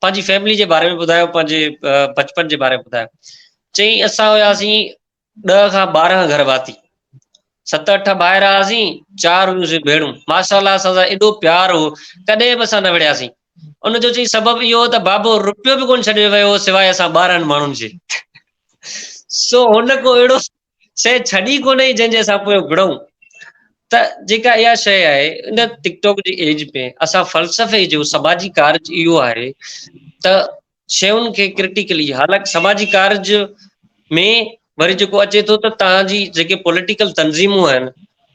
پنهنجي فيملي جي باري ۾ ٻڌايو پنهنجي بچپن جي باري ۾ ٻڌايو چيائين اسان هياسين ڏهه کان ٻارهن گهر واتي ست اٺ ڀائر هئاسين چار هيون ڀيڻون ماشاء الله اسان سان ايڏو پيار هو ڪڏهن به اسان نه وڙهياسين ان جو چي سبب اهو هو ته بابو روپيو به ڪون ڇڏي ويو سواء اسان ٻارهن ماڻهن جي سو هن ڪو اهڙو سي ڇڏي ڪونهي جنهن جي اسان پويان وڙهون ته جيڪا اها شيء آهي ان ٽڪ ٽاڪ جي ايج ۾ اسان فلسفي جو سماجي ڪارج اهو آهي ته شيون کي ڪرٽيڪلي حالانڪ سماجي ڪارج ۾ وري جيڪو اچي ٿو ته تهان جي جيڪي پوليٽيڪل تنظيمون آهن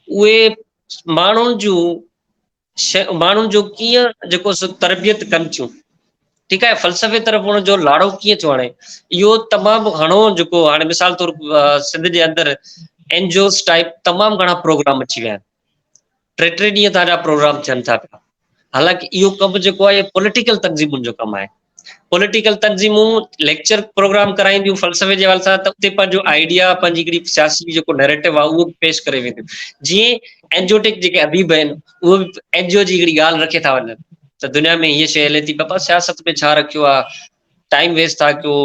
اهي ماڻهن جون شيون ماڻهن جو ڪيئن جيڪو سو تربيت ڪن ٿيون ٺيڪ آهي فلسفي طرف ان جو لاڙو ڪيئن ٿيو آڻي اهو تمام گهڻو جيڪو هاڻي مثال طور سنڌ جي اندر اين جي اوز ٽائپ تمام گهڻا پروگرام اچي ويا آهن ٽي ٽي ڏينهن تان جا پروگرام ٿين ٿا پيا حالانڪ اهو ڪم جيڪو آهي پوليٽيڪل تنظيمن جو ڪم آهي پوليٽيڪل تنظيمون ليڪچر پروگرام ڪرائينديون فلسفي جي حوالي سان ته اتي پنهنجو آئيڊيا پنهنجي هڪڙي سياسي جيڪو نيريٽو آهي اهو پيش ڪري وينديون جيئن اينجوٽڪ جيڪي اديب آهن اهو به اينجيو جي هڪڙي ڳالهه رکي ٿا وڃن ته دنيا ۾ هيء شي هلي ٿي بابا سياست ۾ ڇا رکيو آهي ٽائيم ويسٽ ٿا ڪيو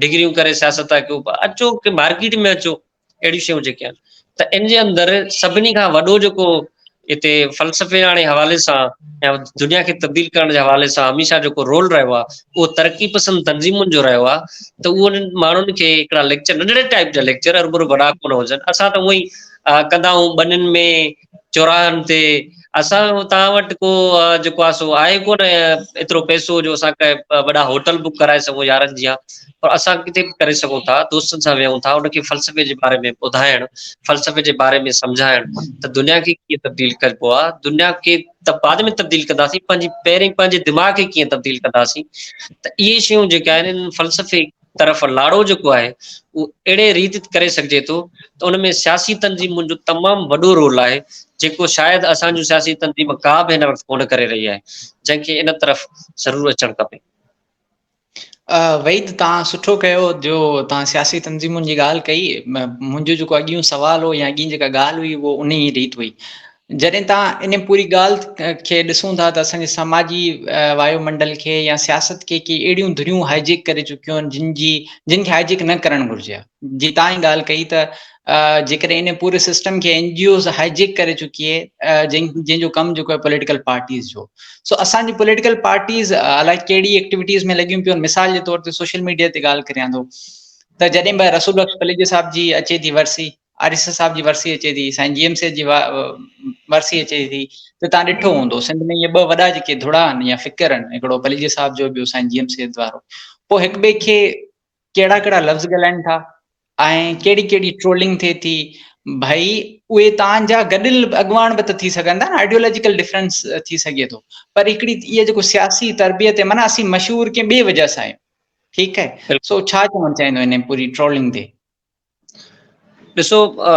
ڊگريون ڪري سياست ٿا ڪيو اچو مارڪيٽ ۾ اچو اهڙيون شيون جيڪي آهن ته ان جي اندر سڀني کان وڏو جيڪو هتي فلسفي آڻي حوالي سان يا دنيا کي تبديل ڪرڻ جي حوالي سان هميشه جيڪو رول رهيو آهي اهو ترقي پسند تنظيمن جو رهيو آهي ته اهو انهن ماڻهن کي هڪڙا ليڪچر ننڍڙي ٽائپ جا ليڪچر هرڀرو وڏا ڪونه هجن اسان ته اهو ئي ڪندا آهيون ٻنين ۾ چوراهن تي اسان توهان وٽ ڪو جيڪو آهي سو آهي ڪو نه ايترو پئسو جو اسان ڪي وڏا هوٽل بڪ ڪرائي سگهون يارن جيان پر اسان ڪٿي به ڪري سگهون ٿا دوستن سان ويهون ٿا ان کي فلسفي جي باري ۾ ٻڌائڻ فلسفي جي باري ۾ سمجهائڻ ته دنيا کي ڪيئن تبديل ڪبو آهي دنيا کي ته بعد ۾ تبديل ڪنداسين پنهنجي پهرين پنهنجي دماغ کي ڪيئن تبديل ڪنداسين ته اهي شيون جيڪي آهن فلسفي طرف لاڙو جيڪو آهي اهو اهڙي ريت ڪري سگهجي ٿو ته ان ۾ سياسي تنظيمن جو تمام وڏو رول آهي جيڪو شايد اسان جون سياسي تنظيم ڪا به هن وقت ڪونه ڪري رهي آهي جنهن کي ان طرف ضرور اچڻ کپي. وحيد توهان سٺو ڪيو جو توهان سياسي تنظيمن جي ڳالهه ڪئي منهنجو جيڪو اڳيون سوال هو يا اڳين جيڪا ڳالهه هئي اهو انهي ريت هئي جڏهن تان ان پوري ڳالهه کي ڏسون ٿا ته اسان جي سماجي وايو منڊل کي يا سياست کي ڪي اهڙيون ڌريون هائي جيڪ ڪري چڪيون آهن جن جي جن کي هائي جيڪ نه ڪرڻ گهرجي ها جي تان هي ڳالهه ڪئي ته جيڪڏهن ان پوري سسٽم کي N G Os hijack ڪري چڪي جن جن جو ڪم جيڪو آهي پوليٽيڪل پارٽيز جو سو اسان جي پوليٽيڪل پارٽيز الائي ڪهڙي ايڪٽيويٽيز ۾ لڳيون پيون مثال جي طور تي سوشل ميڊيا تي ڳالهه ڪريان ٿو ته جڏهن به رسول بخش پليجي صاحب جي اچي ٿي ورسي آر ايس ايس صاحب جي ورسي اچي ٿي سائين جي ايم سيد جي ورسي اچي ٿي ته تان ڏٺو هوندو سنڌ ۾ اهي ٻه وڏا جيڪي ڌڙا آهن يا فڪر آهن هڪڙو پليجي صاحب جو ٻيو سائين جي ايم سيد وارو پوء هڪ ٻئي کي ڪهڙا ڪهڙا لفظ ڳالهائين ٿا ۽ ڪهڙي ڪهڙي ٽرولنگ ٿئي ٿي ڀائي اهي تان جا گڏل اڳواڻ به ته ٿي سگهن ٿا نه آئيڊيولوجيڪل ڊفرنس ٿي سگهي ٿو پر هڪڙي اهي جيڪو سياسي تربيت معنی اسين مشهور ڪنهن ٻي وجه سان آهيون ٺيڪ آهي سو ڇا چوڻ چاهيندو ان پوري ٽرولنگ تي ڏسو آ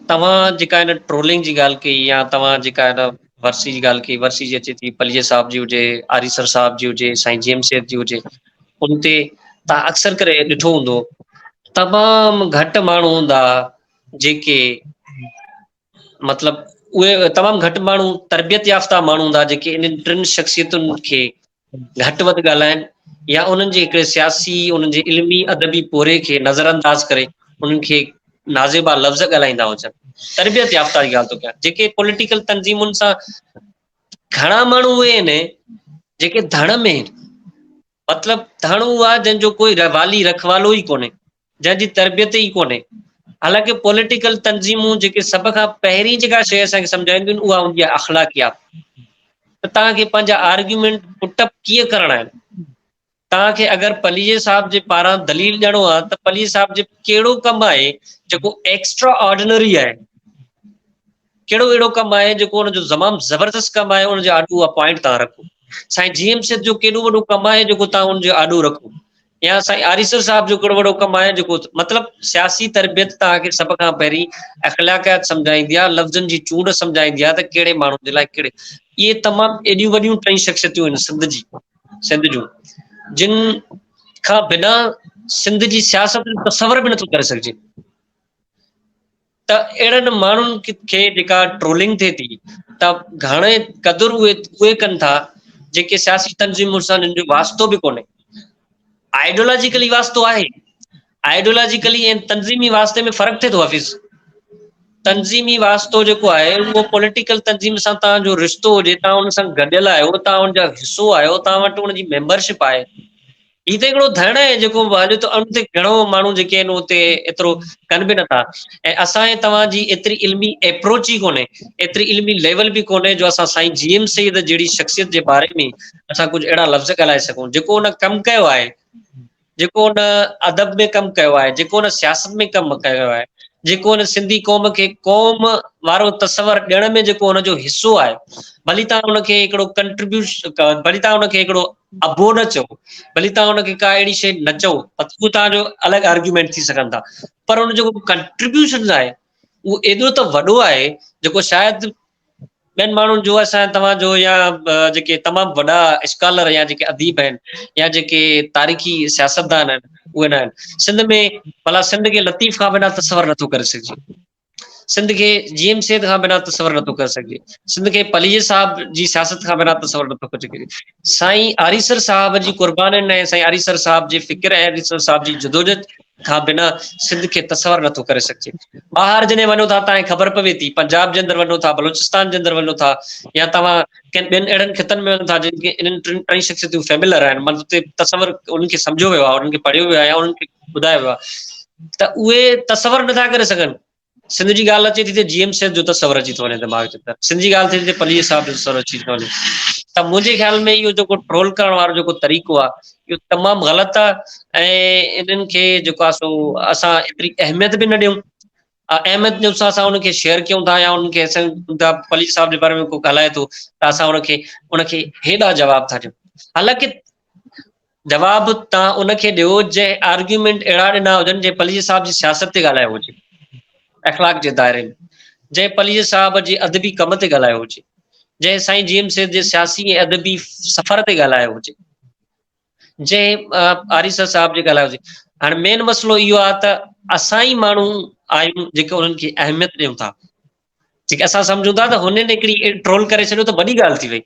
توهان جيڪا هن ٽرولنگ جي ڳالهه ڪئي يا توهان جيڪا هن ورسي جي ڳالهه ڪئي ورسي جي اچي ٿي پليجي صاحب جي هجي آريسر صاحب جي هجي سائين جي ايم سيد جي هجي ان تي توهان اڪثر ڪري ڏٺو هوندو تمام گهٽ ماڻهو هوندا جيڪي مطلب اهي تمام گهٽ ماڻهو تربيت يافته ماڻهو هوندا جيڪي انهن ٽن شخصيتن کي گهٽ وڌ ڳالهائين يا انهن جي هڪڙي سياسي انهن جي علمي ادبي پوري کي نظر انداز ڪري انهن کي نازيبا لفظ ڳالهائيندا هجن تربيت يافته جي ڳالهه ٿو ڪيان جيڪي پوليٽيڪل تنظيمن سان گهڻا ماڻهو اهي آهن جيڪي ڌڻ ۾ مطلب ڌڻ اهو آهي جنهن جو ڪوئي والي رکوالو ئي ڪونهي جنهن جي تربيت ئي ڪونهي حالانڪه پوليٽيڪل تنظيمون جيڪي سڀ کان پهرين جيڪا شيء اسان کي سمجهائينديون اها هوندي آهي اخلاقيات ته توهان کي پنهنجا آرگيومينٽ پٽ اپ ڪيئن ڪرڻا آهن توهان کي اگر پليجي صاحب جي پاران دليل ڏيڻو آهي ته پليجي صاحب جي ڪهڙو ڪم آهي جيڪو ايڪسٽرا آرڊينري آهي ڪهڙو اهڙو ڪم آهي جيڪو ان جو زمام زبردست ڪم آهي ان جي آڏو اها پوائنٽ تان رکو سائين جي ايم سيد جو ڪيڏو وڏو ڪم آهي جيڪو تان ان جو آڏو رکو يا سائين آريسر صاحب جو ڪهڙو وڏو ڪم آهي جيڪو مطلب سياسي تربيت تان کي سڀ کان پهرين اخلاقيات سمجھائيندي آهي لفظن جي چونڊ سمجھائيندي آهي ته ڪهڙي ماڻهو جي لاء ڪهڙي اهي تمام ايڏيون وڏيون ٽئي شخصيتون آهن سنڌ جي سنڌ جون جن کان بنا سنڌ جي سياست جو تصور به نٿو ڪري سگھجي ته اهڙن ماڻهن کي جيڪا ٽرولنگ ٿئي ٿي ته گهڻي قدر اهي اهي ڪن ٿا جيڪي سياسي تنظيمن سان جن جو واسطو به ڪونهي آئيڊيولاجيڪلي واسطو آهي آئيڊيولاجيڪلي ۽ تنظيمي واسطي ۾ فرق ٿئي ٿو حفيظ تنظيمي واسطو جيڪو آهي اهو پوليٽيڪل تنظيم سان تان جو رشتو هجي تان ان سان گڏيل آهيو تان ان جا حصو آهيو تان وٽ ان جي ميمبرشپ آهي هي ته هڪڙو ڌرڻو آهي جيڪو هليو ٿو ان تي گهڻو ماڻهو جيڪي آهن اتي ايترو ڪن به نٿا ۽ اسان ۽ توهان جي ايتري علمي ايپروچ ئي ڪونهي ايتري علمي ليول به ڪونهي جو اسان سائين جي ايم سيد جهڙي شخصيت جي باري ۾ اسان ڪجهه اهڙا لفظ ڳالهائي سگهون جيڪو ان ڪم ڪيو آهي جيڪو ان ادب ۾ ڪم ڪيو آهي جيڪو ان سياست ۾ ڪم ڪيو آهي جيڪو ان سنڌي قوم کي قوم وارو تصور ڏيڻ ۾ جيڪو ان جو حصو آهي ڀلي تان ان کي هڪڙو ڪنٽريبيوش ڀلي تان ان کي هڪڙو ابو نه چئو ڀلي توهان ان کي ڪا اهڙي شيء نه چئو اهو توهان جو الڳ آرگيومينٽ ٿي سگهن ٿا پر ان جو ڪنٽريبيوشن آهي اهو ايڏو ته وڏو آهي جيڪو شايد ٻين ماڻهن جو اسان توهان جو يا جيڪي تمام وڏا اسڪالر يا جيڪي اديب آهن يا جيڪي تاريخي سياستدان آهن اهي نه آهن سنڌ ۾ ڀلا سنڌ کي لطيف کان بنا تصور نٿو ڪري سگهجي سنڌ کي جي ايم سيد کان بنا تصور نٿو ڪري سگهجي سنڌ کي پليجي صاحب جي سياست کان بنا تصور نٿو ڪري سگهجي سائين آريسر صاحب جي قربانين ۽ سائين آريسر صاحب جي فڪر ۽ آريسر صاحب جي جدوجهد کان بنا سنڌ کي تصور نٿو ڪري سگهجي ٻاهر جڏهن وڃو ٿا تان خبر پوي ٿي پنجاب جي اندر وڃو ٿا بلوچستان جي اندر وڃو ٿا يا توهان ڪن ٻين اهڙن خطن ۾ وڃو ٿا جن کي انهن ٽن ٽن شخصيتون فيملر آهن مطلب تصور انهن کي سمجهيو ويو آهي انهن کي پڙهيو ويو آهي انهن کي ٻڌايو ويو آهي ته اهي تصور نٿا ڪري سگهن سنڌ جي ڳالهه اچي ٿي ته جي ايم سيد جو تصور اچي ٿو وڃي دماغ جي اندر سنڌ جي ڳالهه ٿي ته پليس صاحب جو تصور اچي ٿو وڃي ته منهنجي خيال ۾ اهو جيڪو ٽرول ڪرڻ وارو جيڪو طريقو آهي اهو تمام غلط آهي ۽ انهن کي جيڪو آهي سو اسان ايتري اهميت به نه ڏيون احمد جو سا سا ان کي شيئر ڪيون ٿا يا ان کي اسان دا پليج صاحب جي باري ۾ ڪو ڳالهائي ٿو ته اسان ان کي ان کي هيڏا جواب ٿا ڏيون حالانڪه جواب تان ان کي ڏيو جنهن آرگيومنٽ اهڙا ڏنا هجن جنهن پليج صاحب جي سياست تي ڳالهايو هجي اخلاق جي دائري ۾ جنهن پليج صاحب جي ادبي ڪم تي ڳالهايو هجي جنهن سائين جي ايم سيد جي سياسي ۽ ادبي سفر تي ڳالهايو هجي جنهن آريسر صاحب جي ڳالهايو جي هاڻي مين مسئلو اهو آهي ته اسان ئي ماڻهو آهيون جيڪي انهن کي اهميت ڏيون ٿا جيڪي اسان سمجھون ٿا ته هنن هڪڙي ٽرول ڪري ڇڏيو ته وڏي ڳالهه ٿي وئي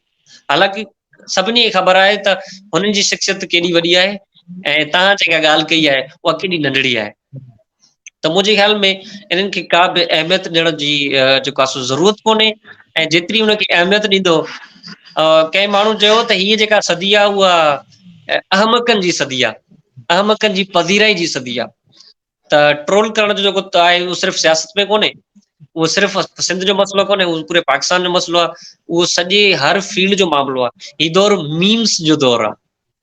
حالانڪه سڀني کي خبر آهي ته هنن جي شخصيت ڪيڏي وڏي آهي ۽ تان جيڪا ڳالهه ڪئي آهي اها ڪيڏي ننڍڙي آهي ته منهنجي خيال ۾ انهن کي ڪا به اهميت ڏيڻ جي جيڪو آسو ضرورت ڪونهي ۽ جيتري ان کي اهميت ڏيندو ڪئين ماڻهو چيو ته هي جيڪا صدي آهي اها احمقن جي صدي آهي احمقن جي پذيرائي جي صدي آهي ته ٽرول ڪرڻ جو جيڪو آهي اهو صرف سياست ۾ ڪونهي اهو صرف سنڌ جو مسئلو ڪونهي اهو پوري پاڪستان جو مسئلو آهي اهو سڄي هر فيلڊ جو معاملو آهي هي دور ميمس جو دور آهي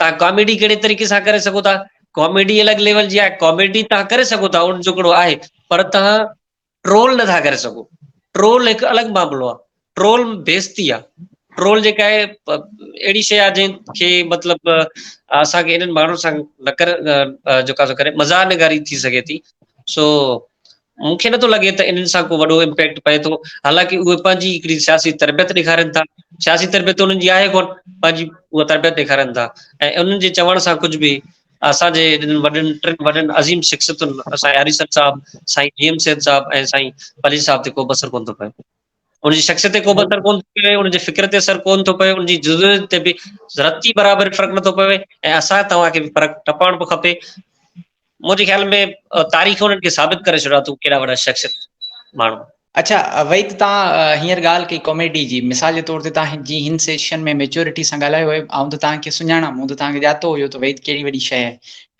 توهان ڪاميڊي ڪهڙي طريقي سان ڪري سگهو ٿا ڪاميڊي الڳ ليول جي آهي ڪاميڊي توهان ڪري سگهو ٿا ان جو هڪڙو آهي پر توهان ٽرول نٿا ڪري سگهو ٽرول هڪ الڳ معاملو آهي ٽرول بيستي آهي ٽرول جيڪا آهي اهڙي شي آهي جنهن کي مطلب اسانکي انهن ماڻهن سان نه ڪري جيڪا سو ڪري مزاح نگاري ٿي سگهي ٿي سو مون کي نٿو لڳي ته انهن سان ڪو وڏو امپيڪٽ پئي ٿو، حالانڪه اهي پنهنجي هڪڙي سياسي تربيت ڏيکارين ٿا، سياسي تربيت انهن جي آهي ڪونه، پنهنجي اها تربيت ڏيکارين ٿا ۽ انهن جي چوڻ سان ڪجهه به اسان جي انهن وڏن ٽن وڏن عظيم شخصيتن سائين هريسر صاحب، سائين جي ايم سيد صاحب ۽ سائين پليجي صاحب تي ڪو به اثر ڪونه ٿو پئي. ان جي شخصيت تي ڪوبه اثر ڪونه ٿو پوي، ان جي فڪر تي اثر ڪونه ٿو پوي، ان جي جزويت تي به رتي برابر فرق نٿو پوي ۽ اسان توهان کي به فرق نه پوڻ به کپي. منهنجي خيال ۾ تاريخ انهن کي ثابت ڪري ڇڏيو اٿو ڪهڙا وڏا شخصيت ماڻهو. اڇا وحيد توهان هينئر ڳالهه ڪئي ڪاميڊي جي مثال جي طور تي توهان جي هن سيشن ۾ ميچورٽي سان ڳالهايو آهي آئون ته توهان کي سڃاڻان مون ته توهان کي ڄاتو هيو ته وحيد ڪهڙي وڏي شيء آهي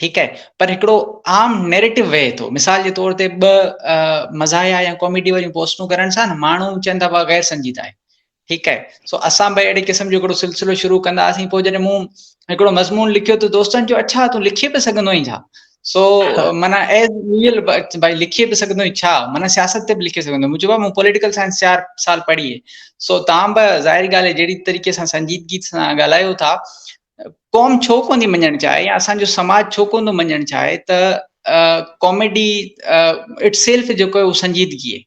ٺيڪ آهي پر هڪڙو عام نيريٽو وهي ٿو مثال جي طور تي ٻه مزاحيا يا ڪاميڊي واريون پوسٽون ڪرڻ سان ماڻهو چون ٿا غير سنجيده آهي ٺيڪ آهي سو اسان به اهڙي قسم جو هڪڙو سلسلو شروع ڪنداسين پوء جڏهن مون هڪڙو مضمون لکيو ته دوستن جو اڇا تون لکي به سگهندو آهين ڇا سو مانا ايز ريئل بھائی لکي به سگهندو آهين ڇا مانا سياست تي به لکي سگهندو مون چيو مون پوليٽيڪل سائنس چار سال پڙهي سو تان به ظاهر ڳالهه جهڙي طريقي سان سنجيدگي سان ڳالهايو ٿا قوم ڇو ڪونٿي مڃڻ چاهي يا اسان جو سماج ڇو ڪونٿو مڃڻ چاهي ته ڪاميڊي اٽ سيلف جيڪو اهو سنجيدگي آهي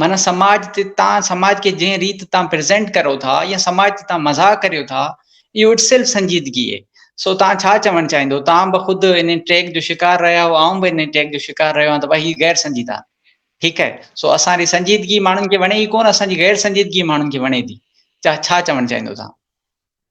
معنی سماج تي تان سماج کي جنهن ريت تان پريزنٽ ڪرو ٿا يا سماج تي تان مزاق ڪريو ٿا اهو اٽ سيلف سنجيدگي آهي سو تان ڇا چوڻ چاهيندو تان به خود ان ٽيگ جو شڪار رهيا هو آئون به ان ٽيگ جو شڪار رهيو آهيان ته بھي غير سنجيدا ٺيڪ آهي سو اسان جي سنجيدگي ماڻهن کي وڻي ئي ڪون اسان جي غير سنجيدگي ماڻهن کي وڻي ٿي ڇا چوڻ چاهيندو تان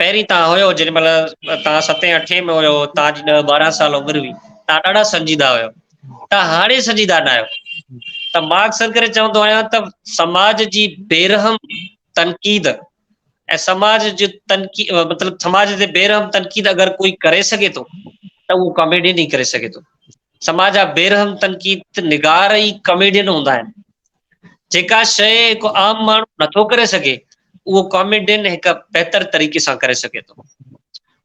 پهرين توهان هيو جڏهن مهل توهان ستين اٺين ۾ هيو توهان جي ڏهه ٻارهن سال عمر هئي توهان ڏاڍا سنجيده هيو توهان هاڻي سنجيده نه آهيو ته مان اڪثر ڪري چوندو آهيان ته سماج جي بيرحم تنقيد ۽ سماج جي تنقيد مطلب سماج جي بيرحم تنقيد اگر ڪوئي ڪري سگهي ٿو ته اهو ڪاميڊين ئي ڪري سگهي ٿو سماج جا بيرحم تنقيد نگار ئي ڪاميڊين هوندا آهن جيڪا شيء هڪ عام ماڻهو نٿو ڪري سگهي، اهو ڪاميڊين هڪ بهتر طريقي سان ڪري سگهي ٿو.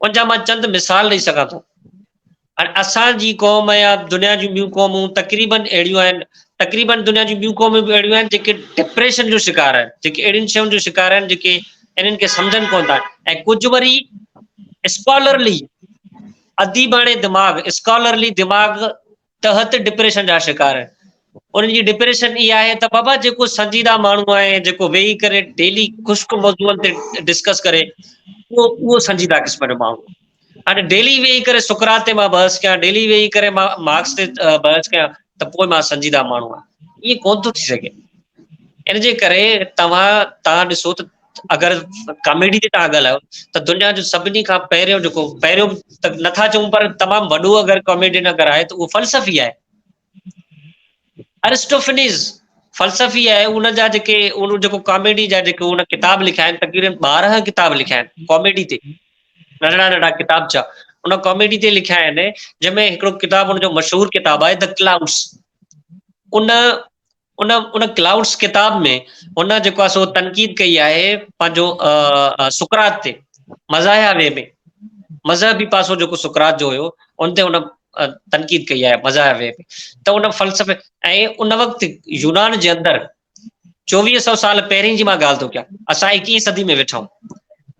ان جا مان چند مثال ڏئي سگهان ٿو. هاڻي اسان جي قوم يا دنيا جون ٻيون قومون تقريبن اهڙيون آهن، تقريبن دنيا جون ٻيون قومون به اهڙيون آهن جيڪي ڊپريشن جو شڪار آهن، جيڪي اهڙين شين جو شڪار آهن جيڪي انهن کي سمجهن ڪونه ٿا ۽ ڪجهه وري اسڪالرلي اديباڻي دماغ، اسڪالرلي دماغ تحت ڊپريشن جا شڪار آهن انهن جي ڊپريشن اي آهي ته بابا جيڪو سنجيده ماڻهو آهي جيڪو ويهي ڪري ڊيلي خشڪ موضوعن تي ڊسڪس ڪري اهو اهو سنجيده قسم جو ماڻهو هاڻي ڊيلي ويهي ڪري سڪرات تي مان بحث ڪيان ڊيلي ويهي ڪري مان مارڪس تي بحث ڪيان ته پوء مان سنجيده ماڻهو آهيان ائين ڪون ٿو ٿي سگهي ان جي ڪري توهان تان ڏسو ته اگر ڪاميڊي جي تھان ڳالھايو ته دنيا جو سڀني کان پهريون جيڪو پهريون ته نٿا چون پر تمام وڏو اگر ڪاميڊين اگر آهي ته اهو فلسفي آهي ارسٽوفنيز فلسفي آهي ان جا جيڪي ان جيڪو ڪاميڊي جا جيڪو ان ڪتاب لکيا آهن تقريبن ٻارهن ڪتاب لکيا آهن ڪاميڊي تي ننڍڙا ننڍڙا ڪتاب ڇا ان ڪاميڊي تي لکيا آهن جنهن ۾ هڪڙو ڪتاب ان جو مشهور ڪتاب آهي ته ڪلائوس ان ان ان ڪلائوڊس ڪتاب ۾ هن جيڪو آهي سو تنقيد ڪئي آهي پنهنجو سڪرات تي مزاحيا وي ۾ مذهبي پاسو جيڪو سڪرات جو هيو ان تي هن تنقيد ڪئي آهي مزاحيا وي ۾ ته ان فلسفي ۽ ان وقت يونان جي اندر چوويهه سو سال پهرين جي مان ڳالهه ٿو ڪيان اسان ايڪيهين صدي ۾ ويٺا آهيون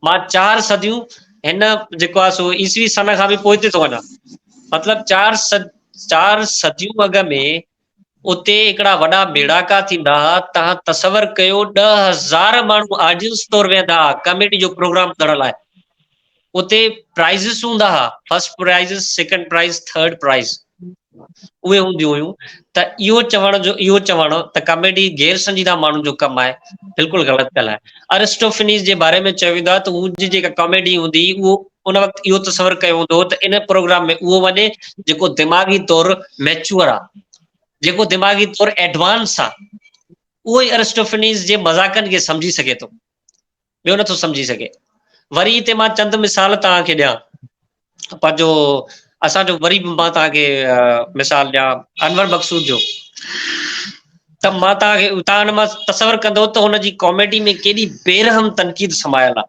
مان چار صديون هن جيڪو آهي سو عيسوي سن کان به پوئتي ٿو وڃان مطلب چار چار صديون اڳ ۾ اتي هڪڙا وڏا ميڙاڪا ٿيندا ها، توهان تصور ڪيو ڏهه هزار ماڻهو آڊينس طور ويهندا ها ڪاميڊي جو پروگرام ٻڌڻ لاء. اتي پرائزز هوندا ها، first prizes, second prize, third prize اهي هونديون هيون ته اهو چوڻ جو اهو چوڻ ته ڪاميڊي غير سنجيده ماڻهن جو ڪم آهي بلڪل غلط ڳالهه آهي. ارسٽوفينيز جي باري ۾ چيو ويندو آهي ته هن جي جيڪا ڪاميڊي هوندي هئي اهو ان وقت اهو تصور ڪيو ويندو هو ته ان پروگرام ۾ اهو وڃي جيڪو دماغي طور ميچوئر آ جيڪو دماغي طور ايڊوانس آ اهو ئي ارسٽوفنيز جي مذاقن کي سمجهي سگهي ٿو ٻيو نٿو سمجهي سگهي وري هتي مان چند مثال توهان کي ڏيان پنهنجو اسان جو وري مان توهان کي مثال ڏيان انور مقصود جو ته مان توهان کي توهان مان تصور ڪندو ته هن جي ڪاميڊي ۾ ڪيڏي بيرحم تنقيد سمايل آ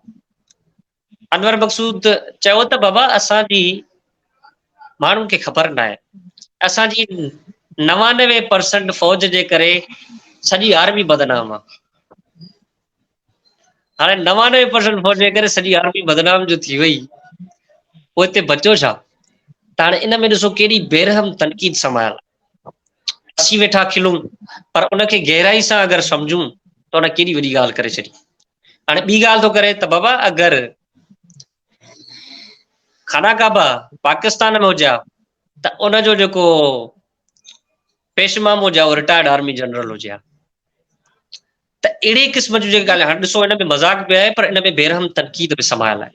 انور مقصود چيو ته بابا اسان جي ماڻهن کي خبر ناهي اسان جي نوانوي پرسنٽ فوج جي ڪري سڄي آرمي بدنام آ هاڻي نوانوي پرسنٽ فوج جي ڪري سڄي آرمي بدنام جو ٿي وئي پوء هتي بچو ڇا ته هاڻي ان ۾ ڏسو ڪهڙي بيرحم تنقيد سمايل اسي ويٺا کلون پر ان کي گهرائي سان اگر سمجھون ته ان ڪهڙي وڏي ڳالهه ڪري ڇڏي هاڻي ٻي ڳالهه ٿو ڪري ته بابا اگر خانه ڪعبه پاڪستان ۾ هجا ته ان جو جيڪو پيشمام هجا اهو رٽائرڊ آرمي جنرل هجا ته اهڙي قسم جون جيڪي ڳالهيون هاڻي ڏسو ان ۾ مذاق به آهي پر ان ۾ بيرحم تنقيد به سمايل آهي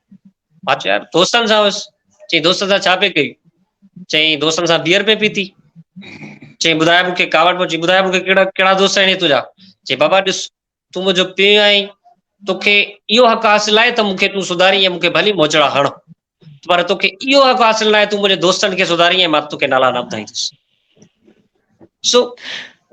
مانچو يار دوستن سان هوس چي دوستن سان ڇا پي ڪري چي دوستن سان بيئر پي پيتي چي ٻڌايا مون کي ڪاوڙ پوچي ٻڌايا مون کي ڪهڙا ڪهڙا دوست آهن تنهنجا چي بابا ڏس تون منهنجو پي آهين توکي اهو حق حاصل آهي ته مون کي تون سڌاري ۽ مون کي ڀلي موچڙا هڻ پر توکي اهو حق حاصل ناهي تون منهنجي دوستن کي سڌاري ۽ مان توکي نالا نه ٻڌائيندس سو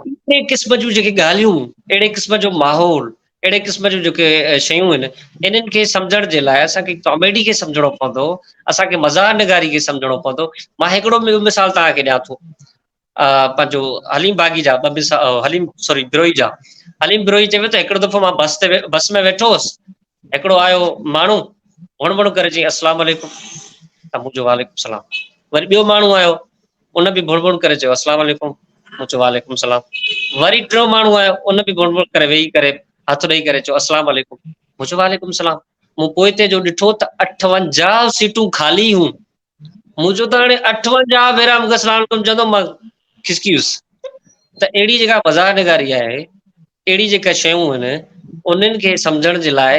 اهڙي قسم جون جيڪي ڳالهيون اهڙي قسم جو ماحول اهڙي قسم جون جيڪي شيون آهن انهن کي سمجهڻ جي لاء اسان کي ڪاميڊي کي سمجهڻو پوندو اسان کي مزاح نگاري کي سمجهڻو پوندو مان هڪڙو ٻيو مثال توهان کي ڏيان ٿو پنهنجو حليم باغي جا ٻه مثال حليم سوري بروهي جا حليم بروهي چيو ته هڪڙو دفعو مان بس تي بس ۾ ويٺو هوس هڪڙو آيو ماڻهو وڻ وڻ ڪري چيائين السلام عليڪم ته مون چيو وعليڪم السلام وري ٻيو ماڻهو آيو ان به ڀڻ ڀڻ ڪري چيو اسلام عليڪم، مون چيو وعليڪم سلام، وري ٽيون ماڻهو آيو ان به ڀڻ ڀڻ ڪري ويهي ڪري هٿ ڏئي ڪري چيو اسلام عليڪم، مون چيو وعليڪم سلام، مون پوئتي جو ڏٺو ته اٺونجاهه سيٽون خالي هيون، مون چيو ته هاڻي اٺونجاهه ڀيرا مون کي اسلام عليڪم چوندو مان کسڪي ويس ته اهڙي جيڪا مزاح نگاري آهي اهڙي جيڪا شيون آهن انهن کي سمجهڻ جي لاء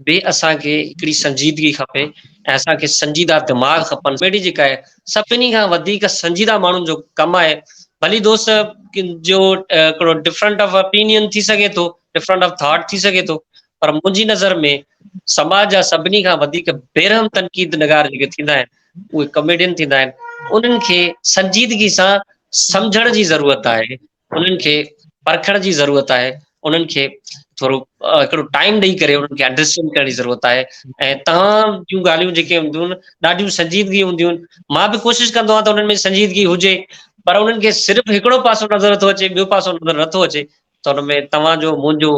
به اسان کي هڪڙي سنجيدگي کپي ۽ اسان کي سنجيده دماغ کپن اهڙي جيڪا آهي سڀني کان وڌيڪ سنجيده ماڻهن جو ڪم آهي ڀلي دوست جو هڪڙو ڊفرنٽ آف اپينين ٿي سگهي ٿو ڊفرنٽ آف ٿاٽ ٿي سگهي ٿو پر منهنجي نظر ۾ سماج جا سڀني کان وڌيڪ بيرحم تنقيد نگار جيڪي ٿيندا آهن اهي ڪاميڊين ٿيندا آهن انهن کي سنجيدگي سان سمجهڻ جي ضرورت آهي انهن کي پرکڻ جي ضرورت آهي انهن کي ٿورو هڪڙو ٽائيم ڏئي ڪري انهن کي انڊرسٽينڊ ڪرڻ جي ضرورت آهي ۽ تمام جون ڳالهيون جيڪي هونديون آهن ڏاڍيون سنجيدگي هونديون آهن مان به ڪوشش ڪندو آهيان ته انهن ۾ سنجيدگي هجي پر انهن کي صرف هڪڙو پاسو نظر نٿو اچي ٻيو پاسو نظر نٿو اچي ته ان ۾ توهان جو منهنجو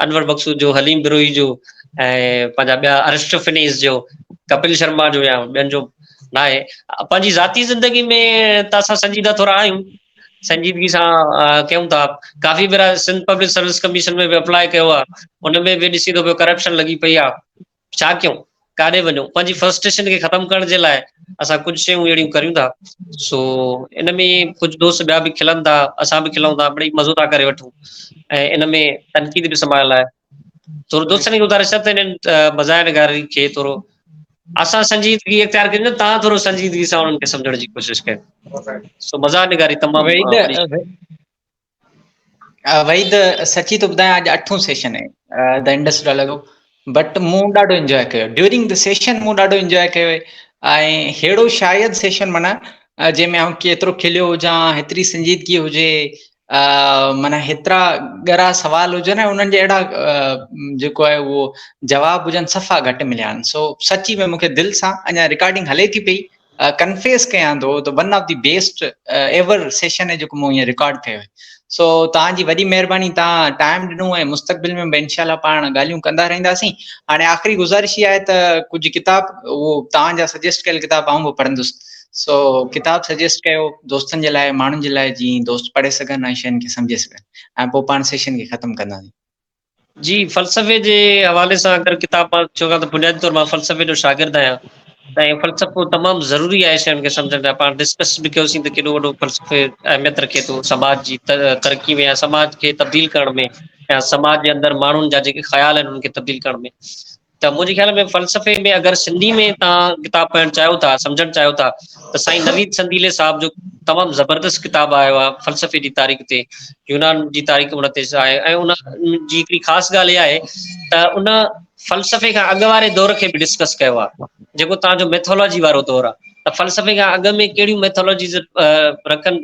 انور مقصود جو حليم بروهي جو ۽ پنهنجا ٻيا ارشف فنيس جو ڪپل شرما جو يا ٻين جو ناهي پنهنجي ذاتي زندگي ۾ ته اسان سنجيده ٿورا آهيون سنجيدگي سان ڪيون ٿا ڪافي ڀيرا سنڌ پبلڪ سروس ڪميشن ۾ به اپلاء ڪيو آ ان ۾ به ڏسي ٿو پيو ڪرپشن لڳي پئي آ ڇا ڪيون ڪاڏي وڃون پنهنجي فرسٽريشن کي ختم ڪرڻ جي لاء اسان ڪجهه شيون اهڙيون ڪريون ٿا سو ان ۾ ڪجهه دوست ٻيا به کلن ٿا اسان به کلون ٿا مڙئي مزو ٿا ڪري وٺون ۽ ان ۾ تنقيد به سمايل آهي ٿورو دوستن کي ٻڌاء رشتن تي نن مزاح نگاري کي ٿورو اسان سنجيدگي اختيار ڪري نه تان ٿورو سنجيدگي سان انهن کي سمجھڻ جي ڪوشش ڪر سو مزاح نگاري تمام وحيد وحيد سچي تو ٻڌايان اڄ اٺون سيشن آهي د انڊس ڊالر جو بٽ مون ڏاڍو انجوائي ڪيو ڊيورنگ د سيشن مون ڏاڍو انجوائي ڪيو ۽ ههڙو شايد سيشن منا جنهن ۾ آئون ڪيترو کليو هجان هيتري سنجيدگي هجي معنيٰ هيترا ڳرا سوال هجن ۽ انهن جا اهڙا جيڪو آهي اهو جواب هجن صفا گهٽ مليا آهن سو سچي ۾ مونکي دل سان اڃا رڪارڊنگ هلي ٿي پئي ڪنفيس ڪيان ٿو ته one of the best ever session جيڪو مون هيئن رڪارڊ ڪيو سو توهان جي وڏي مهرباني توهان ٽائم ڏنو ۽ مستقبل ۾ به انشاء الله پاڻ ڳالهيون ڪندا رهنداسين هاڻي آخري گذارش هي آهي ته ڪجهه ڪتاب اهو توهان جا سجيسٽ ڪيل ڪتاب آئون به پڙهندس سو ڪتاب سجيسٽ ڪيو دوستن جي لاء ماڻهن جي لاء جيئن دوست پڙهي سگهن ۽ شين کي سمجهي سگهن ۽ پوء پاڻ سيشن کي ختم ڪنداسين. جي فلسفي جي حوالي سان اگر ڪتاب مان چون ته بنيادي طور مان فلسفي جو شاگرد آهيان ۽ فلسفو تمام ضروري آهي شين کي سمجهڻ لاء پاڻ ڊسڪس به ڪيوسين ته ڪيڏو وڏو فلسفي اهميت رکي ٿو سماج جي ترقي ۾ يا سماج کي تبديل ڪرڻ ۾ يا سماج جي اندر ماڻهن جا جيڪي خيال آهن انهن کي تبديل ڪرڻ ۾ ته منهنجي خيال ۾ فلسفي ۾ اگر سنڌي ۾ تهان ڪتاب پڙهڻ چاهيو ٿا سمجهڻ چاهيو ٿا ته سائين نويد سنديلي صاحب جو تمام زبردست ڪتاب آيو آهي فلسفي جي تاريخ تي يونان جي تاريخ ان تي آهي ۽ ان جي هڪڙي خاص ڳالهه اها آهي ته ان فلسفي کان اڳ واري دور کي به ڊسڪس ڪيو آهي جيڪو توهان جو ميٿالاجي وارو دور آ ته فلسفي کان اڳ ۾ ڪهڙيون ميٿالاجيز رکن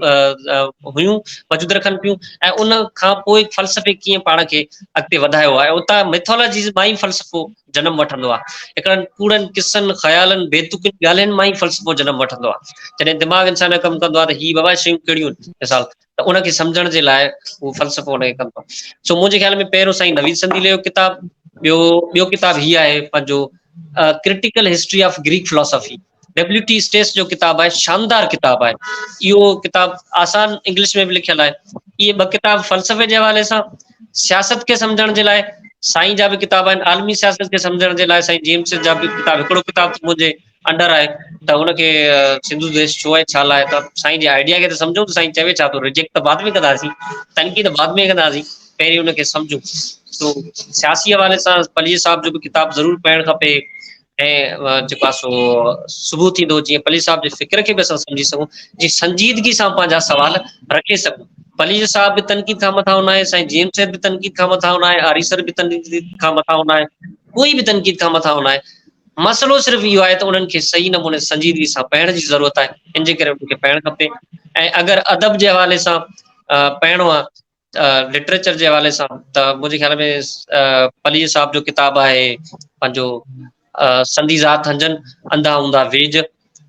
هيون وجود رکن پيون ۽ ان کان پوء فلسفي ڪيئن پاڻ کي اڳتي وڌايو آهي اتان ميٿالاجيز مان ئي فلسفو جنم وٺندو آهي هڪڙن ڪوڙن قصن خيالن بيتوڪن ڳالهين مان ئي فلسفو جنم وٺندو آهي جڏهن دماغ انسان جو ڪم ڪندو آهي ته هي بابا شيون ڪهڙيون مثال ته ان کي سمجهڻ جي لاء اهو فلسفو ان کي ڪم ٿو. سو منهنجي خيال ۾ پهريون سائين نويد سنديلي جو ڪتاب، ٻيو ٻيو ڪتاب هي آهي پنهنجو critical history of Greek philosophy W T Stace جو ڪتاب آهي شاندار ڪتاب آهي اهو ڪتاب آسان انگلش ۾ به لکيل آهي اهي ٻه ڪتاب فلسفي جي حوالي سان سياست کي سمجھڻ جي لاء سائين جا به ڪتاب آهن عالمي سياست کي سمجھڻ جي لاء سائين جيمس جا به ڪتاب هڪڙو ڪتاب منهنجي انڊر آهي ته ان کي سنڌو ديش ڇو آهي ڇا لاء ته سائين جي آئيڊيا کي ته سمجهون ته سائين چوي ڇا ٿو ريجيڪٽ ته بعد ۾ ڪنداسين تنقيد بعد ۾ ڪنداسين پهرين ان کي سمجهون تو سياسي حوالي سان پليجي صاحب جو به ڪتاب ضرور پڙهڻ کپي ۽ جيڪو سو صبح ٿيندو جيئن پليج صاحب جي فڪر کي به اسان سمجهي سگهون جي سنجيدگي سان پنهنجا سوال رکي سگهون پليج صاحب به تنقيد کان مٿا هنا آهي سائين جيم سيد به تنقيد کان مٿا هنا آهي آريسر به تنقيد کان مٿا هنا آهي ڪوئي به تنقيد کان مٿا هنا آهي مسئلو صرف اهو آهي ته انهن کي صحيح نموني سنجيدگي سان پڙهڻ جي ضرورت آهي، ان جي ڪري انهن کي پڙهڻ کپي ۽ اگر ادب جي حوالي سان پڙهڻو آهي، لٽريچر جي حوالي سان ته منهنجي خيال ۾ پليجي صاحب جو ڪتاب آهي پنهنجو سندي ذات هنجن انڌا هوندا ويڄ،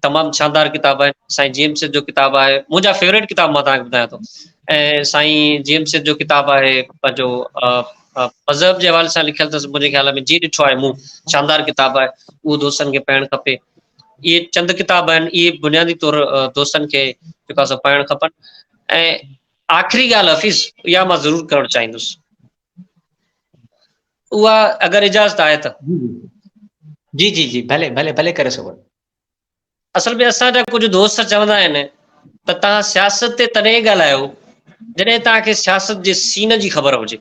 تمام شاندار ڪتاب آهن سائين جي ايم سيد جو ڪتاب آهي منهنجا فيوريٽ ڪتاب مان توهان کي ٻڌايان ٿو ۽ سائين جي ايم سيد جو ڪتاب آهي پنهنجو مذهب جي حوالي سان لکيل اٿس منهنجي خيال ۾ جي ڏٺو آهي مون شاندار ڪتاب آهي اهو دوستن کي پڙهڻ کپي اهي چند ڪتاب آهن اهي بنيادي طور دوستن کي جيڪو سو پڙهڻ کپن ۽ آخري ڳالهه حفيظ اها مان ضرور ڪرڻ چاهيندس اها اگر اجازت آهي ته. جي جي جي ڀلي ڀلي ڀلي ڪري سگهو ٿا. اصل ۾ اسان جا ڪجهه دوست چوندا آهن ته توهان سياست تي تڏهن ڳالهايو جڏهن توهان کي سياست جي سين جي خبر هجي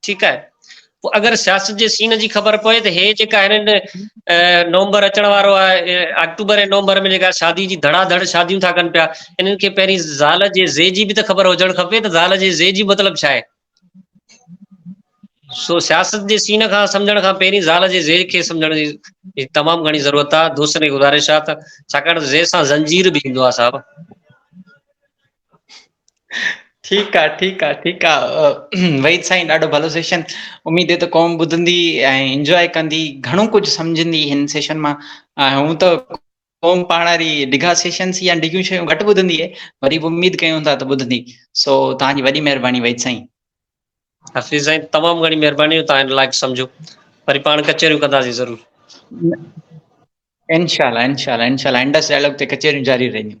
ٺيڪ آهي پوء اگر سياست جي سين جي خبر پوي ته هي جيڪا هنن نومبر اچڻ وارو آهي آڪٽوبر ۽ نومبر ۾ جيڪا شادي جي ڌڙا ڌڙ شاديون ٿا ڪن پيا انهن کي پهرين زال جي زي جي به ته خبر هجڻ کپي ته زال جي زي جي مطلب ڇا آهي سو سياست جي سين کان سمجھڻ کان پهرين زال جي زي کي سمجھڻ جي تمام گھڻي ضرورت آهي دوستن کي گذارش آهي ته ڇاڪاڻ زي سان زنجير به ايندو آهي صاحب ٺيڪ آ ٺيڪ آ ٺيڪ آ وحيد سائين ڏاڍو ڀلو سيشن اميد ته قوم ٻڌندي ۽ انجواء ڪندي گھڻو ڪجھ سمجھندي ھن سيشن مان ھون ته قوم پاڻ واري ڊگھا سيشن سين يا ڊگھيون شيون گھٽ ٻڌندي آھي وري بھ اميد ڪيون ٿا ته ٻڌندي سو توھان جي وڏي مھرباني وحيد سائين حفيظ سائين تمام گھڻي مھرباني ھو توھان لائق سمجھو وري پاڻ ڪچھريون ڪنداسين ضرور انشاء الله انشاء الله انشاء الله انڊس ڊائلاگ تي ڪچھريون جاري رھنديون